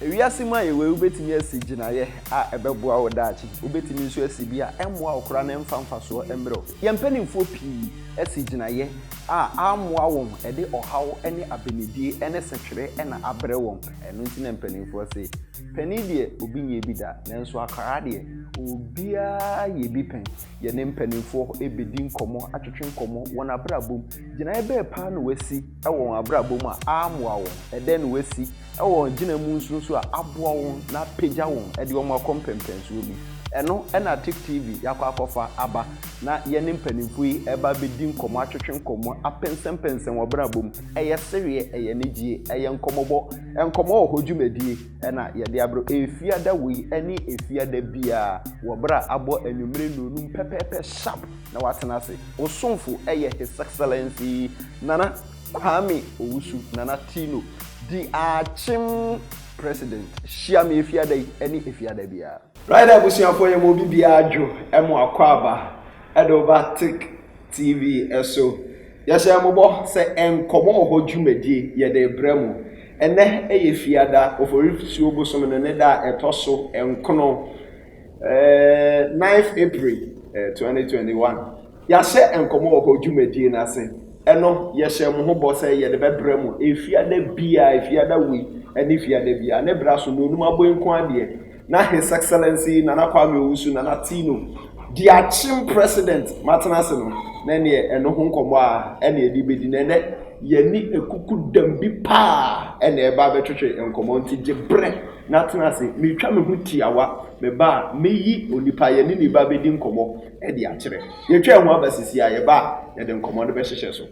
Wiase mu ayewee, wubetumi asi gyinae a ɛbɛboa wo daakye. Wubetumi nso asi bi a ɛmmoa wo koraa na ɛmfa mfasoɔ mmrɛ wo. Yɛn mpanimfoɔ pii asi gyinaeɛ a ammoa wɔn, ɛde ɔhaw ne abenedie ne setwere na abrɛ wɔn. Ɛno nti na mpanimfoɔ se, Panin deɛ, obi nyɛɛ bi da, nanso akwadaa deɛ, obiara yɛ bi pɛn. Yɛne mpanimfoɔ bɛdi nkɔmmɔ, atwetwe nkɔmmɔ, wɔn abrabɔ mu. Gyinaeɛ bɛn paa na wɔasi wɔ wɔn abrabɔ mu a ammoa wɔn? Ɛdɛn na wɔasi wɔ gyina mu nso nso a aboa wɔn na apagya wɔn de wɔn akɔ mpɛmpɛnsoɔ bi. Ɛno na Tik TV yɛakɔ akɔfa aba na yɛne mpanimfoɔ yi reba abɛdi nkɔmmɔ, atwetwe nkɔmmɔ, apɛnsɛmpɛnsɛn wɔ abrabɔ mu. Ɛyɛ sereɛ, ɛyɛ anigyie, ɛyɛ nkɔmmɔbɔ, nkɔmmɔ wɔ hɔ dwumadie na yɛde abrɛ Efiada wei ne Efiada biara wɔ berɛ a abɔ anwummerɛ nnuonum pɛpɛɛpɛ sharp na woatena ase. Wo somfo yɛ His Excellency Nana. Kwame Owusu, Nana Tino, di akyem President, hyia me Efiada yi ne Efiada biara. Rider abusuafoɔ yɛma obi biara dwo mo akwaaba de wo ba Tick TV so. Yɛhyɛ mo bɔ sɛ nkɔmɔ wɔ hɔ dwumadie yɛde rebrɛ mo. Ɛnnɛ yɛ Fiada, Oforisuo bosom no ne da a ɛtɔ so nkono, 9th April 2021. Yɛahyɛ nkɔmmɔ wɔ hɔ dwumadie no ase, ɛno yɛhyɛɛ mo ho bɔ sɛ yɛde bɛbrɛ mo Efiada biara, Efiada wei ne Efiada biara, ne berɛ so, Nonum Aboe nko ara deɛ na His Excellency Nana Kwame Owusu, Nana Tino, Diakyem President matena ase no, na ɛnneɛ ɛno ho nkɔmmɔ ara na yɛde rebɛdi, na ɛnnɛ yɛne akukudam bi paa na ɛreba abɛtwetwe nkɔmmɔ, nti gye berɛ na tena ase, meretwa me ho tiawa, meba a, mɛyi onipa a yɛne no reba abɛdi nkɔmmɔ. de akyerɛ. Yɛatwa yɛn ho aba sisi a, yɛba a, yɛde nkɔmmɔ no bɛhyehyɛ so.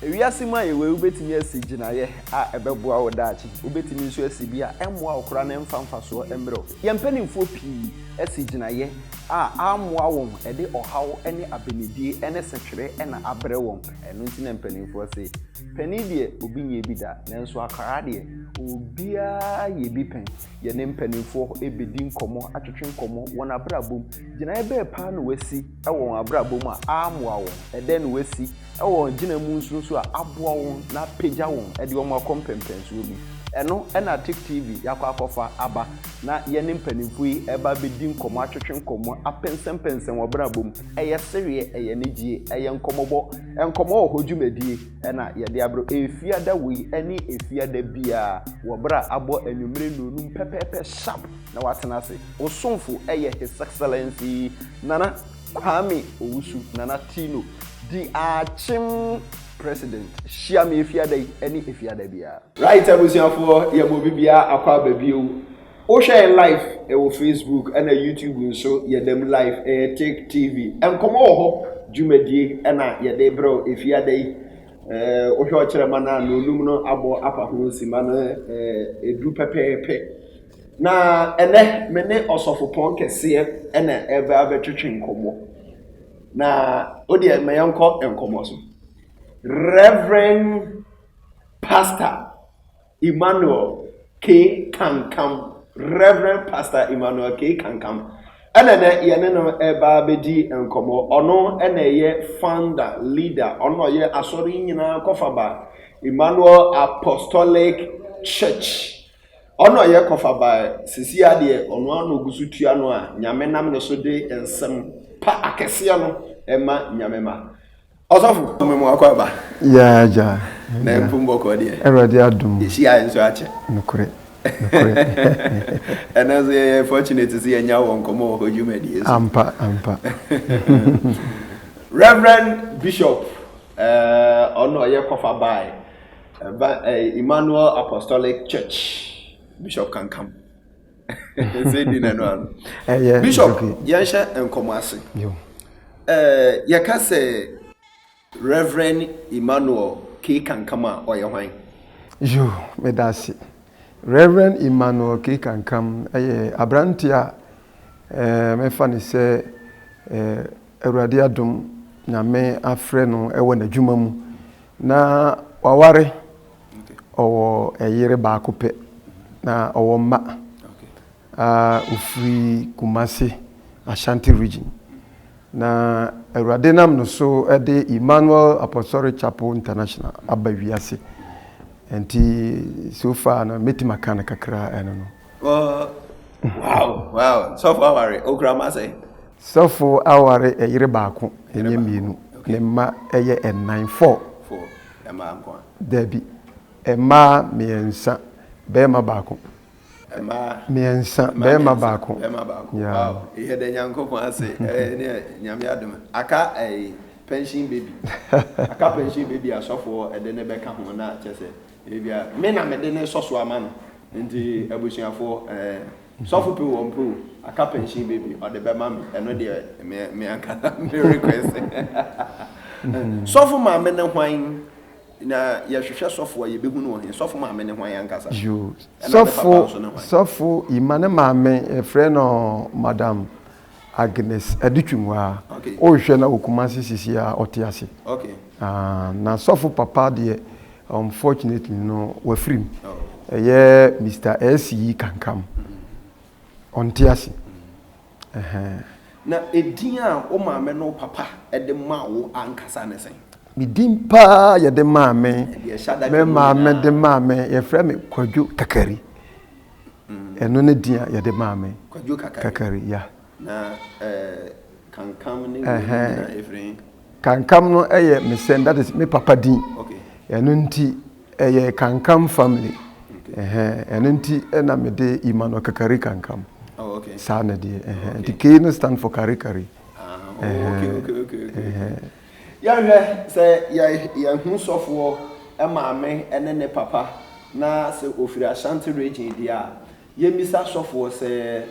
Wiase mu a yɛwɔ yi, wubetumi asi gyinae a ɛbɛboa wo daakye. Wubetumi nso asi bi a ɛmmoa wo koraa na ɛmfa mfasoɔ mmrɛ wo. Yɛn mpanimfoɔ pii asi gyinaeɛ a ammoa wɔn, ɛde ɔhaw ne abenedie ne setwere na abrɛ wɔn. Ɛno nti na mpanimfoɔ se, Panin deɛ, obi nyɛɛ bi da, nanso akwadaa deɛ, obiara yɛ bi pɛn. Yɛne mpanimfoɔ bɛdi nkɔmmɔ, atwetwe nkɔmmɔ, wɔn abrabɔ mu, Gyinae bɛn paa na wɔasi wɔ wɔn abrabɔ mu a ammoa wɔn? Ɛdɛn na wɔasi wɔ wɔn agyina mu nso so a aboa wɔn na apagya wɔn de wɔn akɔ mpɛnpɛnsoɔ bi? Ɛno na Tik TV yɛakɔ akɔfa aba na yɛne mpanimfoɔ yi reba abɛdi nkɔmmɔ, atwetwe nkɔmmɔ, apɛnsɛmpɛnsɛn wɔn abrabɔ mu. Ɛyɛ sereɛ, ɛyɛ anigyie, ɛyɛ nkɔmmɔbɔ, Nkɔmmɔ Wɔ Hɔ dwumadie na yɛde abrɛ wo Efiada wei ne Efiada biara wɔ berɛ a abɔ anwummerɛ nnɔnnum pɛpɛɛpɛ sharp. na watena ase. Wo somfo yɛ His Excellency Nana Kwame Owusu Nana Tino di Akyem President. Hyia me Efiada yi ne Efiada biara. Right abusuafoɔ yɛma obi biara akɔ aba bio wohwɛ yɛn live wɔ Facebook na YouTube nso yɛda mu live ɛyɛ Take TV nkɔmmɔ wɔ hɔ dwumadie na yɛde brɛ wo Efiada yi wohwɛ ɔkyerɛma no a na onum no abɔ afa ho simma no ɛduru pɛpɛɛpɛ Na ɛnnɛ, me ne ɔsɔfopɔn kɛseɛ na ɛreba abɛtwetwe nkɔmmɔ. Na wo deɛ, ma yɛnkɔ nkɔmmɔ so. Reverend Pastor Emmanuel K. Kankam, Reverend Pastor Emmanuel K. Kankam, ɛna nɛ yɛne no ɛba bɛdi nkɔmmɔ. Ɔno ɛna ɛyɛ founder, leader, ɔno na ɔyɛ asɔre nyinaa kɔfaba, Emmanuel Apostolic Church. Ɔno a ɔyɛ kɔfa bae sesei ara deɛ, ɔno ara na ɔgu so tua no a Nyame nam ne so de nsɛm pa akɛseɛ no ma Nyame mma. Ɔsɔfo, me mu akɔ aba. Yaa agya. Na mpo mbɔkɔɔ deɛ. Awurade adom. Yɛhyia yɛ nso akyɛ. Nokorɛ. Nokorɛ. Ɛnɛ nso yɛyɛ fortunate sɛ yɛnya wɔ nkɔmmɔ wɔ hɔ dwumadie so. Ampa, ampa. Reverend Bishop, ɛɛ, ɔno a ɔyɛ kɔfa bae Ɛba ɛɛ Emmanuel Apostolic Church Bishop Kankam. Ɛsɛ di na no ano. Ɛyɛ Bishop yɛnhyɛ nkɔmɔ ase. Ɛɛ yɛka sɛ Reverend Emmanuel K Kankam a ɔyɛ hwan? Yo, meda ase. Reverend Emmanuel K Kankam ɛyɛ aberante a ɛɛ mɛfa ne sɛ ɛɛ Awurade adom Nyame afrɛ no wɔ n'adwuma mu na waware, ɔwɔ ɛyere baako pɛ na ɔwɔ mma a ofiri Kumasi Ashanti region na Awurade nam no so de Emmanuel Apostolic Chapel International aba wiase nti so far no mɛtumi aka no kakra ɛno no. Wow, wow, sɔfo aware, okura ma sɛ? Sɔfo aware yere baako, ɛnyɛ mmienu. Ne mma yɛ nnan, four. Dabi, mmaa mmiɛnsa, barima baako. Mmaa mmiɛnsa, barima baako. Yɛda Nyankopɔn ase, ɛneɛ Nyame adom aka ɛyi pension baby, aka pension baby a sɔfoɔ de ne bɛka ho na kyɛsɛ ebia me na mede ne sɔso ama no nti abusuafoɔ. Sɔfo pe wɔ mpe o, aka pension baby ɔde bɛma me, ɛno deɛ me me anka na me request. Sɔfo maame ne hwan? Na yɛhwehwɛ sɔfo a yɛbɛhu no wɔ he? Sɔfo maame ne hwan ankasa? Yoo, Ɛna ne sɔfo papa nso ne hwan? sɔfo Ima ne maame yɛfrɛ no Madam Agnes Adutwum hɔ a. Okay. Wohwɛ na wɔ Kumasi sisi a ɔte ase. Okay. Ah, na sɔfo papa deɛ unfortunately no wafiri mu. Oh. Ɛyɛ Mr. S yi kankam. Ɔnte ase. Ɛhɛn. Na edin a wo maame no papa de ma wo ankasa ne sɛn? Me din paa yɛde maa me. Ɛde ɛhyɛ da Me maame de maa me yɛfrɛ me Kwadwo Kakari. ɛno ne din a yɛde maa me kwadwo kakari ya na eh, kankam ne ɛhɛn kankam no ɛyɛ me sɛn that is me papa din ɛno nti ɛyɛ kankam family ɛhɛn ɛno nti ɛna me de Emmanuel kakari kankam oh, saa na deɛ ɛhɛn nti kei no stand for karikari ah, oh, ɛhɛn ɛhɛn. Yɛnhwɛ sɛ yɛahu sɔfoɔ maame ne ne papa na sɛ ɔfiri Ashanti Region deɛ a, yɛmmisa sɔfoɔ sɛ,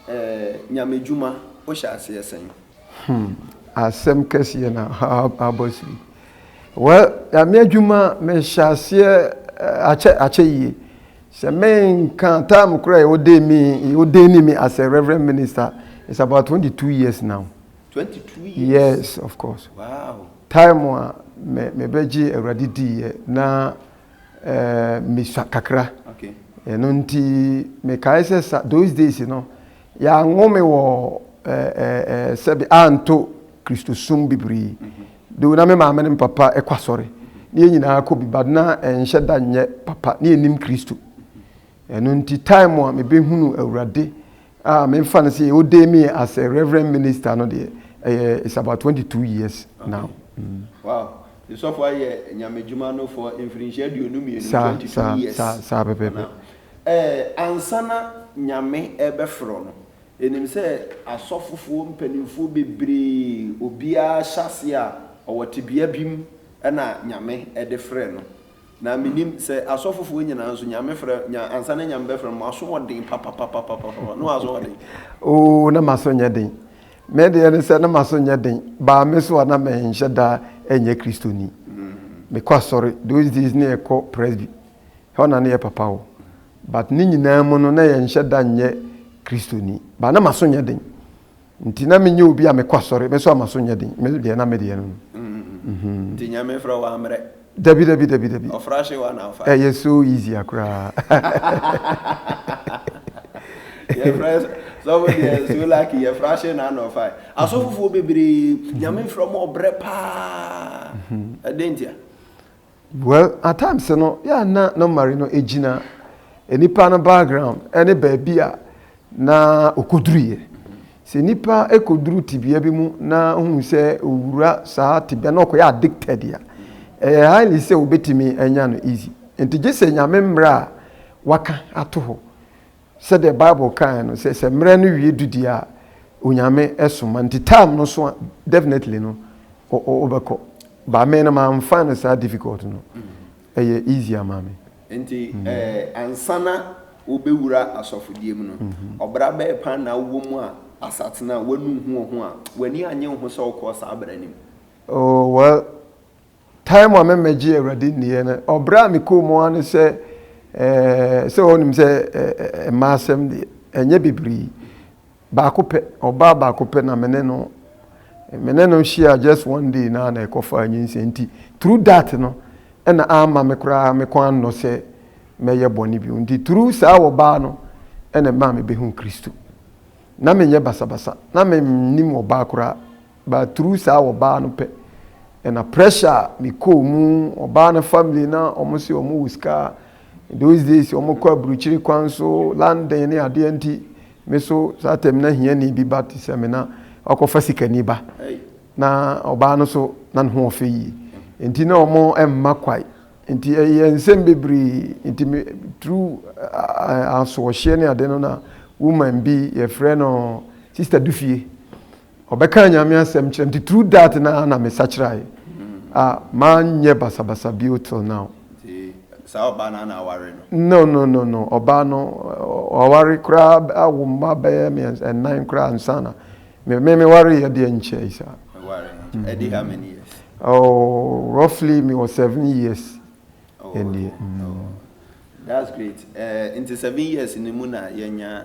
eh, Nyamedwuma wohyɛ aseɛ sɛn? Hmm, asɛm kɛseɛ na abɔ so yi. Well, Nyame adwuma mehyɛ aseɛ eh, akyɛ, akyɛ yie. Sɛ menka time koraa a wɔdee me, wɔdee me as a reverend minister, it's about 22 years now. Twenty two years. Yes of course. Wow. Time a me me bɛ gye awurade di yɛ na ɛɛ eh, misua kakra. Okay. Ɛno nti mekae sɛ sa those days no yɛanwo me wɔ ɛɛ eh, ɛɛ eh, sɛbi anto kristosom bebree. Mm -hmm. Do na me maame ne papa ɛkɔ asɔre. Ne yɛn nyinaa kɔ bi but na ɛnhyɛ da nyɛ papa ne yɛnim kristo. Ɛno nti time a mebɛhunu awurade Ah, memfa no sɛ wode me as a reverend minister no deɛ, ɛyɛ it's about 22 years now. Mm. Wow. Nsɔfo ayɛ nyamedwuma no for mfirinhyia aduonu mmienu, Saa, 22 saa, years. saa, saa pɛpɛpɛ. Now, eh, ansa na Nyame ɛbɛfrɛ no, ɛnim sɛ asɔfofoɔ mpanimfoɔ bebree, obiara hyɛ aseɛ a, ɔwɔ tebea bi mu ɛna Nyame ɛde frɛ no. Na menim sɛ asɔfofoɔ nyinaa nso, Nyame frɛ, nya, ansa na Nyame bɛfrɛ mo, moaso ɔden papapapapapa, na wɔaso ɔden. Oo, na m'aso nyɛ den. Me deɛ ne sɛ, na m'aso nyɛ den, baa me so a na menhyɛ da nyɛ Kristoni. Mekɔ asɔre, those days na yɛkɔ Presby, hɔ na na yɛ papa wɔ, but ne nyinaa mu no, na yɛnhyɛ da nyɛ Kristoni, baa na m'aso nyɛ den. Nti na me nyɛ obi a me kɔ asɔre, me so a ma so nyɛ den, me deɛ na me deɛ no no. Mm-hmm. Nti nyame frɛ wa mmerɛ. Dabi dabi dabi dabi. Ɔfra hye wa na afa. Ɛyɛ eh, so easy akora. Yɛ frɛ sɔfo deɛ so lucky yɛ fra hye na na ɔfa. Asɔfofoɔ bebree nyame frɛ mo ɔbrɛ paa. Ɛdɛn ntia? Well at times no yɛ a na normally no egyina nipa no background ɛne baabi a na okoduru yɛ. Sɛ nipa ekoduru tibea bi mu na ohun sɛ owura saa tibea na ɔkɔyɛ addicted a, ɛyɛ highly sɛ wobetumi anya no easy. Nti gye sɛ Nyame mmra a waka ato hɔ Sɛdeɛ Bible kaeɛ no sɛ sɛ mmerɛ no wie du deɛ a Onyame soma nti time no so a definitely no wobɛkɔ ba me no mamfa no saa difficult no ɛyɛ easy ama me. Nti ansana wobɛwura asɔfodie mu no ɔbra bɛɛ paa na wowɔ mu a asatena wanu ho wo ho a w'ani annye wo ho sɛ wokɔɔ saa bra no mu? Oh well. Time a me mɛgye awurade nniɛ no ɔbrɛ a me kɔɔ mu ara ne sɛ eh sɛ ɔnim sɛ eh mmaa asɛm deɛ ɛnyɛ bebree baako pɛ ɔbaa baako pɛ na me ne no me ne no hyia just one day na na ɛkɔ fa nyinsɛ nti through that no ɛna ama me koraa me kɔn annɔ sɛ mɛyɛ bɔne bio nti through saa ɔbaa no ɛna ɛmaa me bɛhu Kristo na menyɛ basabasa na me nim ɔbaa koraa But through saa wɔbaa no pɛ ɛna pressure a me kɔɔ mu ɔbaa no family na wɔn se wɔn wɔ sika those days wɔn kɔ aburukyire kwan so London ne adeɛ nti me so saa tɛm na hiani bi ba te sɛ me na wakɔ fa sikani ba na ɔbaa no so na ne ho ɔfɛ yie nti na wɔn ɛmma kwae nti ɛyɛ nsɛm bebree nti me through asoɔhyeɛ ne adeɛ no na woman bi yɛfrɛ no sister dufie Ɔbɛkaa Nyame asɛm kyerɛ me nti through that na na me sakyerae a manyɛ basabasa bio till now. Nti saa ɔbaa no na aware no? No no no no ɔbaa no waware koraa awo mma bɛyɛ mmiɛnsa nnan koraa ansa na me me me wareɛ deɛ nkyɛe saa. Meware no nti ɛdi how many years? Oh roughly me wɔ seven years ɛnie. Oh that's great eh, nti seven years no mu na yɛanya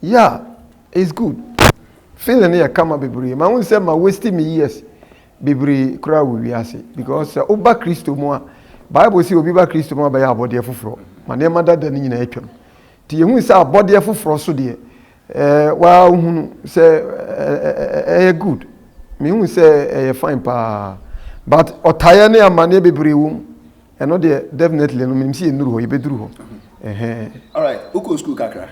Yeah it's good feeling no yɛ kama bebree ma wohu sɛ ma waste me years bebree koraa wɔ wiase because sɛ woba Kristo mu a Bible sɛ obi ba Kristo mu a bɛyɛ abɔdeɛ foforɔ ma nneɛma dada no nyinaa atwam nti yɛhu sɛ abɔdeɛ foforɔ so deɛ eh, waa wohunu sɛ ɛyɛ eh, eh, good mehu sɛ ɛyɛ fine paa but ɔtaeɛ ne amanneɛ bebree wɔ mu ɛno deɛ definitely no menim sɛ yɛnnuru hɔ yɛbɛduru hɔ alright wokɔ school kakra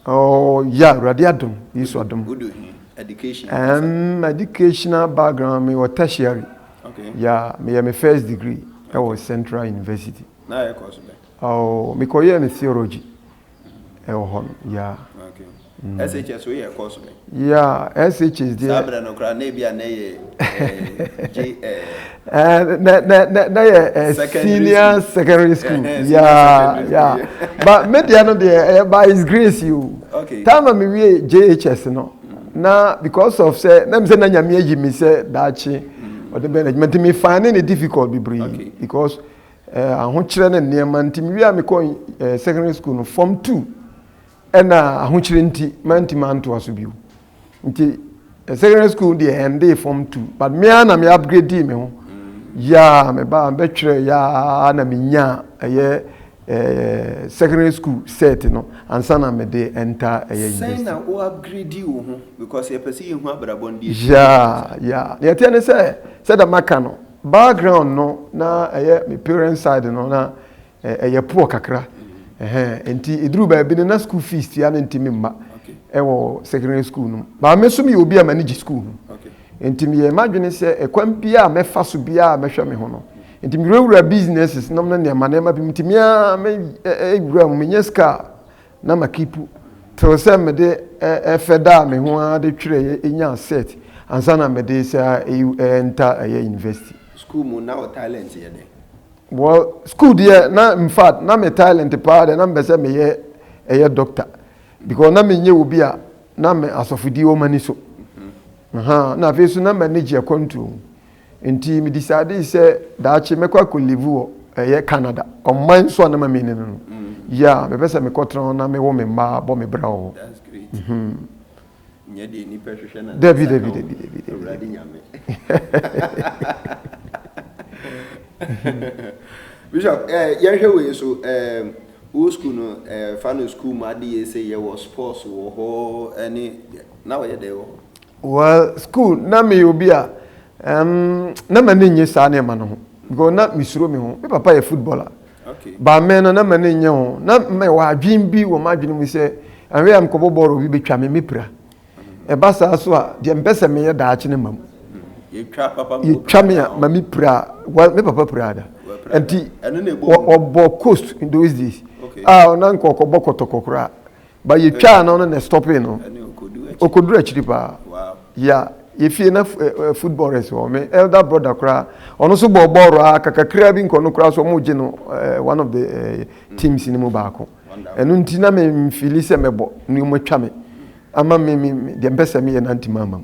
oh yeah awurade adom yesu adom wodo he education um, educational background me wɔ tertiary okay yeah meyɛ me first degree ɛwɔ okay. central university na yɛkɔ so bɛ oh mekɔyɛɛ me theology ɛwɔ hɔ no yeah. Okay. Mm. SHS wo yɛ course bɛ? Yeah, SHS deɛ. Saa berɛ no koraa na ebi a na yɛ JS. Na na na na yɛ senior secondary school. Yeah, yeah. But me deɛ no deɛ ɛyɛ by his grace yi o. Okay. Time a me wie JHS no. Na because of sɛ na mi sɛ na nyame ayi mi sɛ daakye ɔde bɛn adwuma nti mi find ne difficult bebree because. eh, ahokyerɛ ne nneɛma nti mewie a mekɔ eh, secondary school no form two ɛna ahokyerɛ nti mantimi antoa so bio nti eh, secondary school deɛ ɛndee form two but mea na me upgrade me ho yaa mebaa mebɛtwerɛ yaa na menyaa ɛyɛ eh, secondary school set no ansa na mede ɛnta ɛyɛ university na wo upgrade wo ho because yɛpɛ sɛ yɛhu abrabɔ ndeɛ yaa yaa deɛ ɛteɛ ne sɛ sɛ dɛ maka no Background no na ɛyɛ me parents side no na ɛyɛ poor kakra. Nti eduru baabi no na school fees tua no ntumi mma ɛwɔ secondary school no. Ba me nso meyɛ obi a m'ani gye school ho. Nti meyɛɛ m'adwene sɛ ɛkwan biara a mɛfa so biara mɛhwɛ me ho no. Nti mewurawura businesses nom ne nneɛma nneɛma bi mu. Nti me ara mewura mu, menya sika a na ma kipu tew sɛ mede ɛfɛ daa me ho ara de twerɛeɛ nyaa cert ansa na mede sɛ ɛnta ɛyɛ university. School mu na wo talent yɛ dɛn? Wɔ school deɛ na infact na me talent paa deɛ na mepɛ sɛ meyɛ ɛyɛ doctor because na menyɛ obi a na me asɔfodie wɔ m'ani so. Mm-hmm. Aha, na afei so na m'ani gye akwantuo ho. Enti medisaadee sɛ daakye mɛkɔ akɔlivu wɔ ɛyɛ Canada, ɔman nso a na mame ne no no. Ya, mepɛ sɛ mekɔtena hɔ na mewo me mma bɔ me bra wɔ hɔ. That's great. Mhm. Nyɛ deɛ nnipa hwehwɛ na ne Dabi, nsa dabi, ka o. dabi, dabi, dabi, Awurade dabi. Nyame. Bishop, eh, yɛnhwɛ wei so, eh, wo school no, eh, fa no school mu adeyɛ sɛ yɛwɔ sports wɔ hɔ, ɛne, na wɔyɛ dɛn wɔ hɔ? Well, school na meyɛ obi a um, na m'ani nnye saa nneɛma no ho because na mesuro me ho. Me papa yɛ footballer. Okay. But me no na m'ani nnye ho. Na mewɔ adwene bi wɔ m'adwene mu sɛ anhwɛ a mekɔbɔ bɔɔl obi bɛtwa me mepira. Ɛba saa so a deɛ mpɛ sɛ meyɛ daakye no mam. Yɛtwa papa mu Yɛtwa me a ma mepira. Well, me papa pira da. Nti ɔbɔ coast in those days. Okay. Ah, na nkɔkɔbɔ kɔtɔkɔ koraa. But yɛ twaa no no na stopping no. Okoduru akyiri paa. Ya yɛ fie na football rest wɔ me elder brother koraa ɔno so bɔɔ bɔɔl raa kakakraa bi nkɔ no koraa so ɔmo gye no one of the teams no mu baako. Ɛno nti na me mfili sɛ mɛbɔ ne ɔmo atwa me ama me me deɛ mpɛ sɛ meyɛ na ntoma ama mu.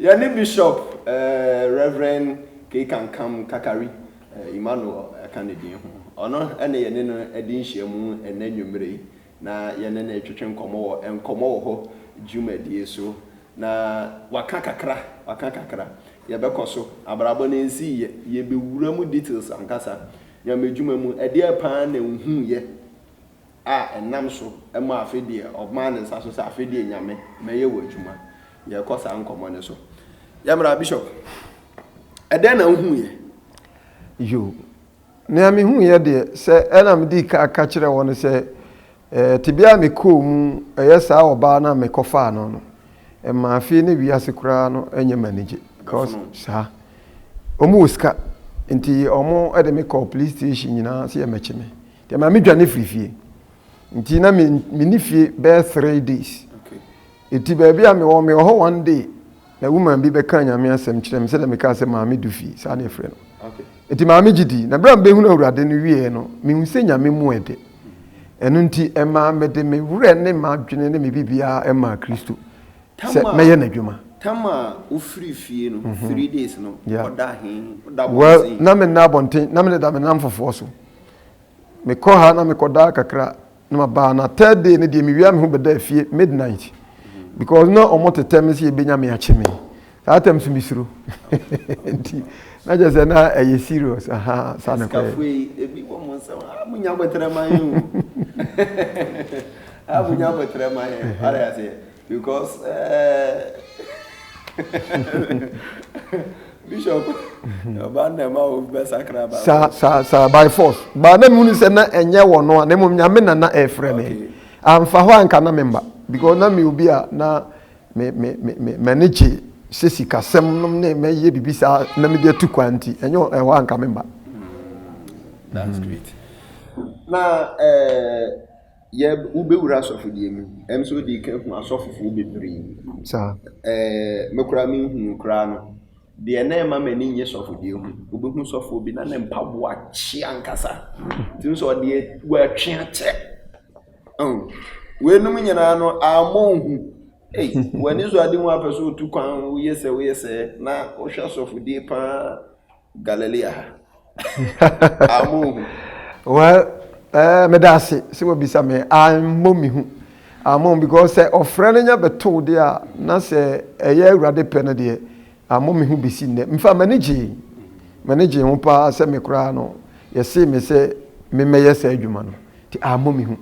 Yɛne Bishop Rev. Keikankam Kakari Emmanuel ɛka ne din ho. Ɔno na yɛne no adi nhyiamu ɛnnɛ anwumerɛ yi na yɛne no retwetwe nkɔmmɔ wɔ Nkɔmmɔ Wɔ Hɔ dwumadie so. Na waka kakra, waka kakra. Yɛbɛkɔ so. Abrabɔ no nsiiɛ. Yɛbɛwura mu details ankasa. Nyame dwuma mu, ɛdeɛn paa na nhuuiɛ? a ɛnam so ma afe deɛ ɔmaa ne nsa so sɛ afe deɛ Nyame mɛyɛ wo adwuma. Yɛkɔ saa nkɔmmɔ no so. Yɛmmra Bishop, ɛdɛn na wohuiɛ? Yo, nea mehuiɛ deɛ, sɛ ɛna medii kan ka kyerɛɛ wɔn no sɛ eh, tebea a mekɔɔ mu, ɛyɛ saa ɔbaa no a mekɔfaa no no, ɛmaa fie ne wiase koraa no nyɛ me anigye. Because saa, wɔn wɔ sika, nti wɔn de me kɔɔ police station nyinaa sɛ yɛmmɛkye me. Nti ɛma me dwane firi fie. Nti na me menni fie bɛyɛ three days. Nti baabi a mewɔ mewɔ hɔ one day na woman bi bɛka nyame asɛm kyerɛ me sɛdeɛ mekaa sɛ maame du fie saa na ɛfrɛ no. Nti maame gye dii na berɛ a mebɛhunu awurade no wieɛ no mehu sɛ nyame mu ɛde. Ɛno nti ɛmaa mede me werɛ ne m'adwene ne me biribiara ɛmaa Kristo sɛ mɛyɛ n'adwuma. Tam a wofiri fie no three days no ɔda he? Ɔda abɔnten? Well na menna abɔnten na mededa me nnamfofoɔ so. mekɔ ha na mekɔ daa kakra na ma baa na third day ne deɛ mewia me ho bɛda afie midnight because na ɔmo tetɛ me sɛ yɛbɛnya me akye me saa tɛm so mesuro nti na kyerɛ sɛ na ɛyɛ serious aha saa ne kɔɛ Because bishop ọba nna ẹma wo bẹ sakra ba. sa sa sa by force baa na mu ni sẹ na ẹnyẹ wọ no a na mmom nyame na na ẹfrẹ mi anfa hɔ anka na mi mba because na mi obi a na mi mi mi mi mẹni gye sẹ sikasẹm nom ne mẹyẹ bibi saa na mi de atu kwan nti ẹnyɛ ɛhɔ anka mi mba. that's great na ɛɛ. yɛ wobɛwura asɔfodie mu ɛm sɛ wode ka hu asɔfofoɔ bebree ɛɛ me koraa menhunu koraa no deɛ na ɛma m'ani nye sɔfodie ho wobɛhu sɔfoɔ bi na ne mpaboa kye ankasa tumi sɛ ɔdeɛ wɔatwe akyɛ weinom nyinaa no ammɔ nhu ei w'ani so ade mu apɛ sɛ ɔtu kwan woyɛ sɛ woyɛ sɛ na wohwɛ asɔfodie paa Galilea ha. Ah, monhu. Well, eh, meda ase sɛ wabisa me ammɔ me hu ammɔ because sɛ ɔfrɛ no nya bɛtow deɛ a na sɛ ɛyɛ awurade pɛ no deɛ ammɔ me hu bɛsi nnɛ mfa m'ani gyee m'ani gyee ho paa sɛ me koraa no yɛsee me sɛ memmɛyɛ saa adwuma no nti ammɔ me hu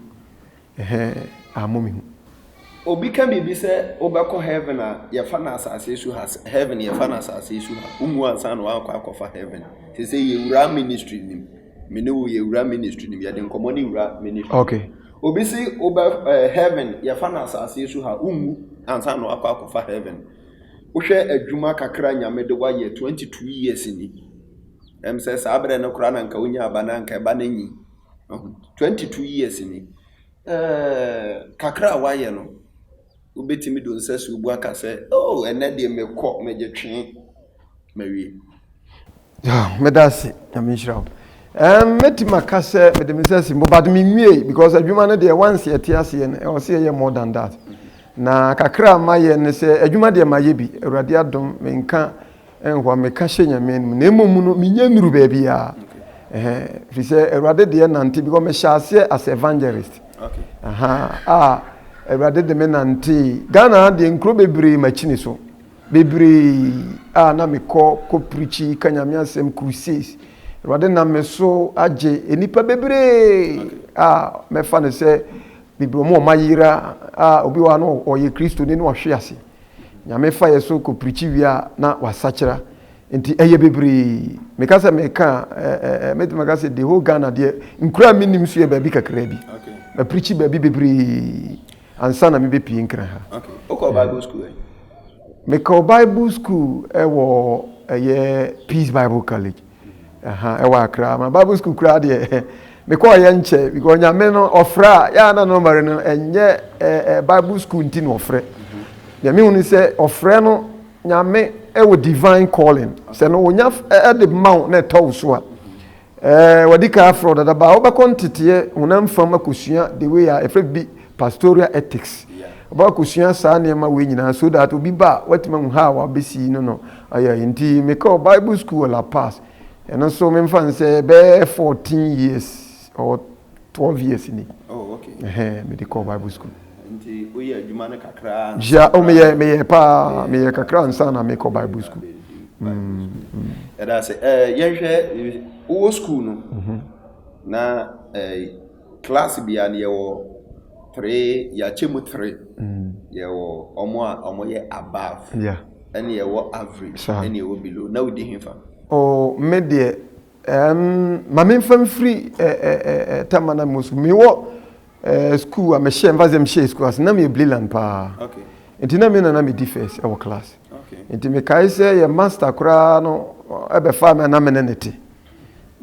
Ɛhɛɛ ah mo mehu. Obi ka biribi sɛ wobɛkɔ heaven a yɛfa no asase so ha sɛ heaven yɛfa no asase so ha womu ansa na woakɔ akɔfa heaven te sɛ yɛwura ministry nim me ne wo yɛwura ministry nim yɛde nkɔmmɔ ne wura ministry okay obi se wobɛ eh, heaven yɛfa no asase so ha womu ansa na woakɔ akɔfa heaven wohwɛ adwuma kakra nyame de woayɛ 22 years ni ɛm sɛ saa berɛ no koraa na nka wonya aba na nka ɛba no nyi Twenty two years ni. Ɛɛ kakra a wayɛ no, wobɛtumi de nsasuo bu aka sɛ, oh, ɛnɛ deɛ mekɔ, megye twe, mawie. Yeah, meda ase, nyame nhyira wo. Um, mɛtumi aka sɛ mede me nsa si mbo but menwie because adwuma no deɛ once yɛte aseɛ no ɛwɔ sɛ yɛyɛ more than that. Na kakra a mayɛ ne sɛ adwuma deɛ mayɛ bi, Awurade adom menka Ɛnhɔ a meka hyɛ Nyame anom na mmom no menya nnuru baabi a. Ɛhɛn, firi sɛ Awurade deɛ nante because mehyɛ aseɛ as evangelist. Okay. Aha, a Awurade de me nantee. Ghana ha deɛ nkuro bebree makyini so. Bebree a na mekɔ kɔ preachi ka Nyame asɛm crusades. Awurade nam me so agye nnipa bebree a mɛfa no sɛ bebree wɔn a wɔayera a obi wɔ ha no ɔyɛ Kristoni na wahwe ase. Nyame fa yɛ so kɔ prikyi wie a na wasakyera nti ɛyɛ bebree meka sɛ meka a mɛtumi aka sɛ the whole Ghana deɛ nkura a menim so yɛ baabi kakraa bi maprikyi baabi bebree ansa na mebɛpie nkra ha mekɔ Bible school ɛwɔ ɛyɛ Peace Bible College Ɛha ɛwɔ akra ama bible school koraa deɛ mekɔɔ yɛ nkyɛ because nyame no ɔfrɛ a yɛ ana no mɛre no ɛnyɛ ɛɛ bible school nti na ɔfrɛ deɛ mehu ne sɛ ɔfrɛ no nyame ɛwɔ divine calling sɛ no onya ɛde ma wo na ɛtɔ wo so a ɛɛ wɔde ka afrɛ dada baa wobɛkɔ nteteɛ honam fam akɔsua the way a ɛfrɛ bi Pastoral Ethics, Ɔbɛkɔsua saa nneɛma wei nyinaa so that obi ba a, watumi ahu how a wabɛsi no no ayɛ. Nti mekɔɔ Bible School wɔ La Paz. Ɛno nso memfa no sɛ ɛbɛyɛ fourteen years or twelve years ni. Oh, okay. Ɛhɛn, mede kɔɔ Bible School. Nti woyɛ adwuma no kakra ansa Hyia, o meyɛ, koraa. meyɛ paa, Yeah, meyɛ yeah, kakra ansa na mekɔ yeah, Bible na School. bɛdi Bible school. Yɛda ase. Eh, yɛnhwɛ, eh, wowɔ school no, na eh, Class bia no yɛwɔ three yɛakyɛ mu three yɛwɔ ɔmo a ɔmo yɛ above ɛna yɛwɔ average ɛna yɛwɔ below na wodi hefa. Oh me deɛ ɛɛm ma me nfa nfiri ɛɛ ɛɛ tama na mo so me wɔ ɛɛ school a me hyɛ nfa sɛ me hyɛ school ase na me yɛ bliland paa nti na me na na me di first ɛwɔ class nti me kae sɛ yɛ master koraa no ɛbɛ fa me na me ne ne te.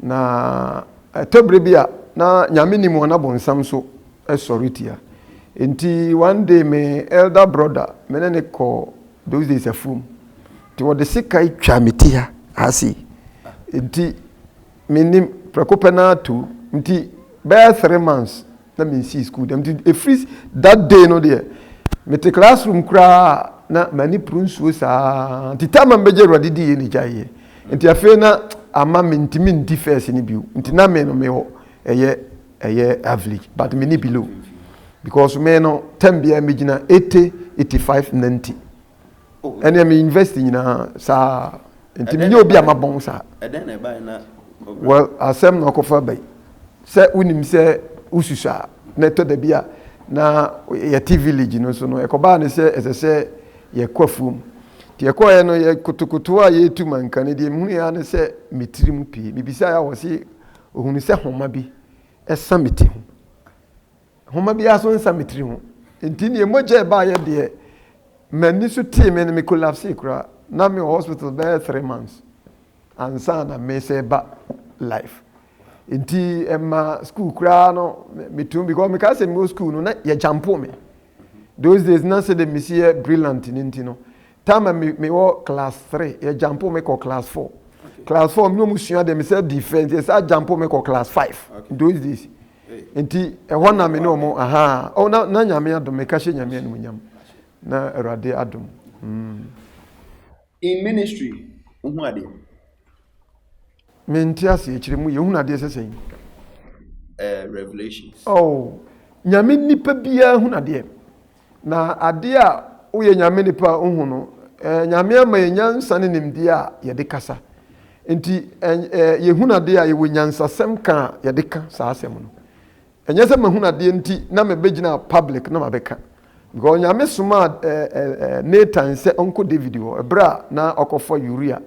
Na ɛtɔ bere bi a, na Nyame nim wɔn na bonsam nso sɔre tia. Nti one day me elder brother, me ne ne kɔ those days afuom. Nti wɔde sika twa me ti ha, ha sei. Nti mennim, prɛko pɛ no ara tu. Nti bɛyɛ three months, na me nsii school dɛm nti ɛfiri that day no deɛ me te class room koraa na m'ani poro nsuo saa nti time a mbɛgye awurade di yɛ na gya yɛ nti afei na ama me ntumi ndi first no bio nti na me no me hɔ ɛyɛ ɛyɛ average but me ni below because me no time biara me gyina 80 85 90 ɛnna mi university nyinaa saa nti mi nye obi a ma bɔn saa. ɛdɛn na ɛbae na. well asɛm na ɔkɔfa bɛyi sɛ wonim sɛ wosusu a na ɛtɔ da bi a na yɛte village no so no ɛkɔbaa ne sɛ ɛsɛ sɛ yɛkɔ afuom nti yɛkɔɛ no yɛ kotokoto a yɛtu manka no deɛ mehunu yɛ ne sɛ metiri mu pii mebisaeɛ a wɔse ohunu sɛ homa bi ɛsa me ti ho Nhoma biara so nsa me tiri ho. Nti neɛ mogya ɛbaeɛ deɛ m'ani so tee me no me collapse koraa. Na me wɔ hospital bɛyɛ three months ansa na me sɛ ba life. Nti ɛma school koraa no metum because me kaa sɛ me wɔ school no na yɛ jampo me. Those days na sɛ de me si yɛ brilliant ne nti no. Time me me wɔ class three yɛ jampo me kɔ class four. Class four me no mu sua deɛ me sɛ di fɛ nti yɛ sɛ jampo me kɔ class five. Those days. Nti ɛhɔ na me ne ɔmo ahaa oh na na nyame adom meka hyɛ nyame animonyam na awurade adom mm. In ministry wohu adeɛ. Me nte ase akyire mu yɛhunu adeɛ sɛ sɛn. Eh, revelations. Oh nyame nipa biara hunu adeɛ. Na adeɛ a woyɛ Nyame nipa nhu no, eh, Nyame ama yɛ nyansa ne nimdeɛ a yɛde kasa. Nti, eh, eh, yɛhunu adeɛ a yɛwɔ nyansasɛm ka a yɛde ka saa asɛm no. Ɛnyɛ sɛ mahunu adeɛ nti na mebɛgyina public na mabɛka. Because Nyame somaa eh, eh, eh, Nathan sɛ ɔnkɔ David hɔ, ɛberɛ a na ɔkɔfa Uria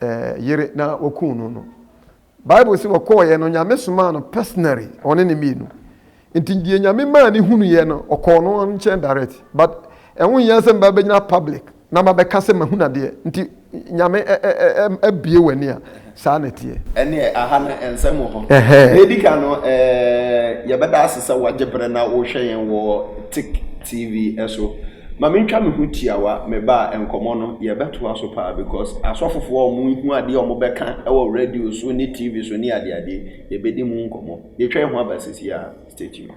eh, yere na wɔkuu no no. Bible se ɔkɔɔeɛ no Nyame somaa no personally ɔne ne mmienu nti deɛ Nyame maa ne hunuiɛ no ɔkɔɔ no nkyɛn direct but ɛho nhia sɛ mba bɛgyina public na ma bɛka sɛ mahunu adeɛ nti Nyame abue w'ani a saa na ɛteɛ. Ɛneɛ aha no nsɛm wɔ hɔ. Deɛ ɛdi kan no yɛbɛda ase sɛ wagye berɛ na worehwɛ yɛn wɔ Tik TV so. Ma me ntwa me ho tiawa me ba a nkɔmɔ no yɛ bɛ toa so paa because asɔfofoɔ a ɔmo hu adeɛ a ɔmo bɛ ka wɔ radio so ne TV so ne ade ade yɛ bɛ di mu nkɔmɔ yɛ twa yɛ ho aba sisi a stay tuned.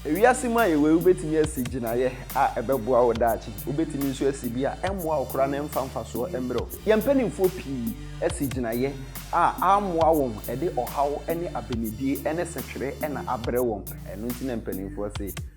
Ewiase mu a yɛwɔ yi wobɛtumi asi gyinaeɛ a ɛbɛboa wo daakye. Wobɛtumi nso asi bi a ɛmmoa wo koraa na ɛmfa mfasoɔ mmrɛ wo. Yɛn mpanimfoɔ pii asi gyinaeɛ a ammoa wɔn, ɛde ɔhaw ne abenedie ne setwere na abrɛ wɔn. Ɛno nti na mpanimfoɔ se,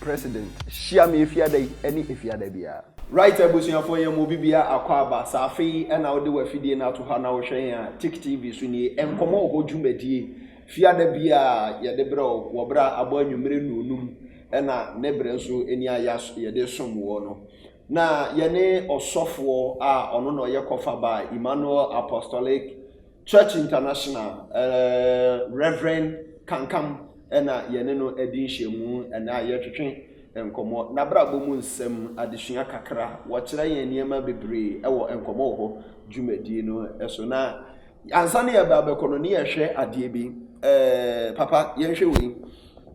President hyia me efiada yi ne efiada biara. Right abusuafoɔ yɛn mu obibiaa akwaaba sɛ afei na wode wafidie no ato hɔ a na wohwɛ yɛn a Tik TV so nie nkɔmmɔ wɔ hɔ dwumadie fiada biaa yɛde brɛ wo wɔ berɛ a abɔ anwumerɛ nnuonum ɛna ne berɛ nso nie a yɛde som woɔ no Na yɛne ɔsɔfoɔ a ɔno na ɔyɛ kɔfa baa Emmanuel Apostolic Church International, Rev. Kankam na yɛne no adi nhyiamu ɛnɛ a yɛretwetwe nkɔmmɔ n'abrabɔ mu nsɛm, adesua kakra, wɔkyerɛ yɛn nneɛma bebree wɔ nkɔmmɔ wɔ hɔ dwumadie no so. Na ansa na yɛba abɛkɔ no ne yɛhwɛ adeɛ bi, ɛɛ papa yɛnhwɛ wei,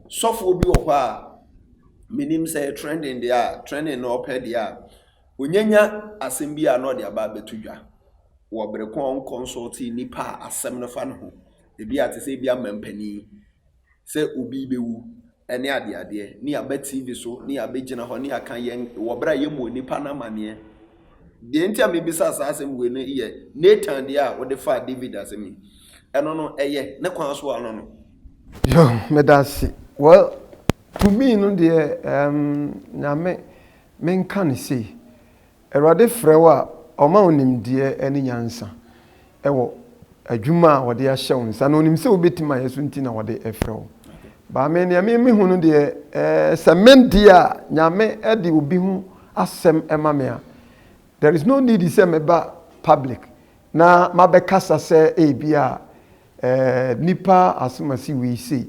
sɔfoɔ bi wɔ hɔ a, menim sɛ yɛ trending deɛ a trending na ɔpɛ deɛ a onyanya asɛm bi a na ɔde aba abɛto dwa wɔ bere ko a ɔnkɔnsɔlte nnipa a asɛm no fa no ho ebi a te sɛ ebi ama mpanin sɛ obi bɛwu ne adeadeɛ ne aba tv so ne abɛgyina hɔ ne aka yɛn wɔ bere a yɛ mu nnipa no amaneɛ deɛ nti a mebisa saa asɛm wei no yɛ Nathan deɛ a wode faa David asɛm yi ɛno no ɛyɛ ne kwan so ano no. Yo, meda ase. Well, Tumi no deɛ ɛɛm Nyame menka no sei, Awurade frɛ wo a ɔma wo nimdeɛ ne nyansa wɔ adwuma a ɔde ahyɛ wo nsa na ɔnim sɛ wobɛtumi ayɛ so nti na ɔde frɛ wo. Baa me deɛ me mehu no deɛ ɛɛ sɛ me deɛ a Nyame de obi ho asɛm ma me a, there is no need sɛ meba public na mabɛkasa sɛ ebi a eh nipa asem asi wei sei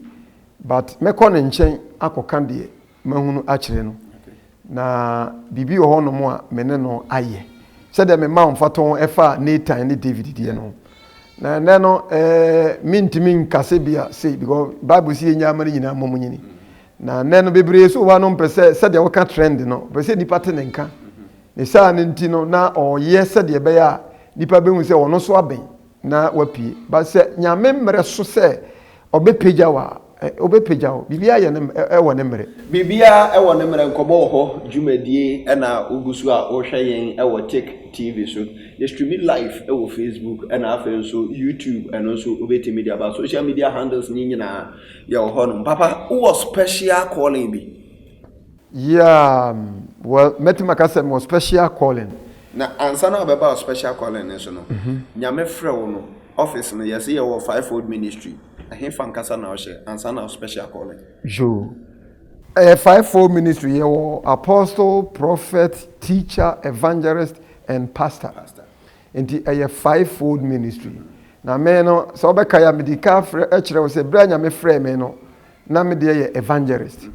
but mɛkɔ ne nkyɛn akɔka deɛ mahunu akyerɛ no na biribi wɔ hɔnom a me ne no ayɛ sɛdeɛ mema wo mfatɔn ɛfa Nathan ne David deɛ no na ɛnɛ no eh mentumi nkase bia sei because Bible si yɛnya ama no nyinaa mmɔ mu nyini na ɛnɛ no bebree so hɔ no mpɛ sɛ sɛdeɛ woka trend no pɛ sɛ nipa te ne nka ne saa no nti no na ɔyɛ sɛdeɛ ɛbɛyɛ a nipa bɛhu sɛ ɔno so abɛn na wapue. But sɛ Nyame mmerɛ so sɛ ɔbɛpagya wo a, ɔbɛpagya wo. Biribiara yɛ ne, ɛwɔ ne mmerɛ. Biribiara ɛwɔ ne mmerɛ. Nkɔmmɔ wɔ hɔ dwumadie ɛna wogu so a wohwɛ yɛn ɛwɔ Tik TV so. Yɛ streami live ɛwɔ Facebook ɛna afei nso YouTube ɛno nso wobɛtumi de aba. Social media handles no nyinaa yɛwɔ hɔ nom. Papa wowɔ special calling bi? Yeah well mɛtumi aka sɛ mewɔ special calling. Na ansa na wobɛba wo special calling no so no, Nyame frɛ wo no, office no yɛse yɛwɔ fivefold ministry, ɛhefa ankasa na wohyɛ ansa na wo special calling? Yoo, ɛyɛ fivefold ministry, yɛwɔ apostle, prophet, teacher, evangelist and pastor. Nti ɛyɛ fivefold ministry. Na me no sɛ wobɛkae a mede ka kyerɛ wo sɛ berɛ a Nyame frɛɛ me no na me deɛ yɛ evangelist.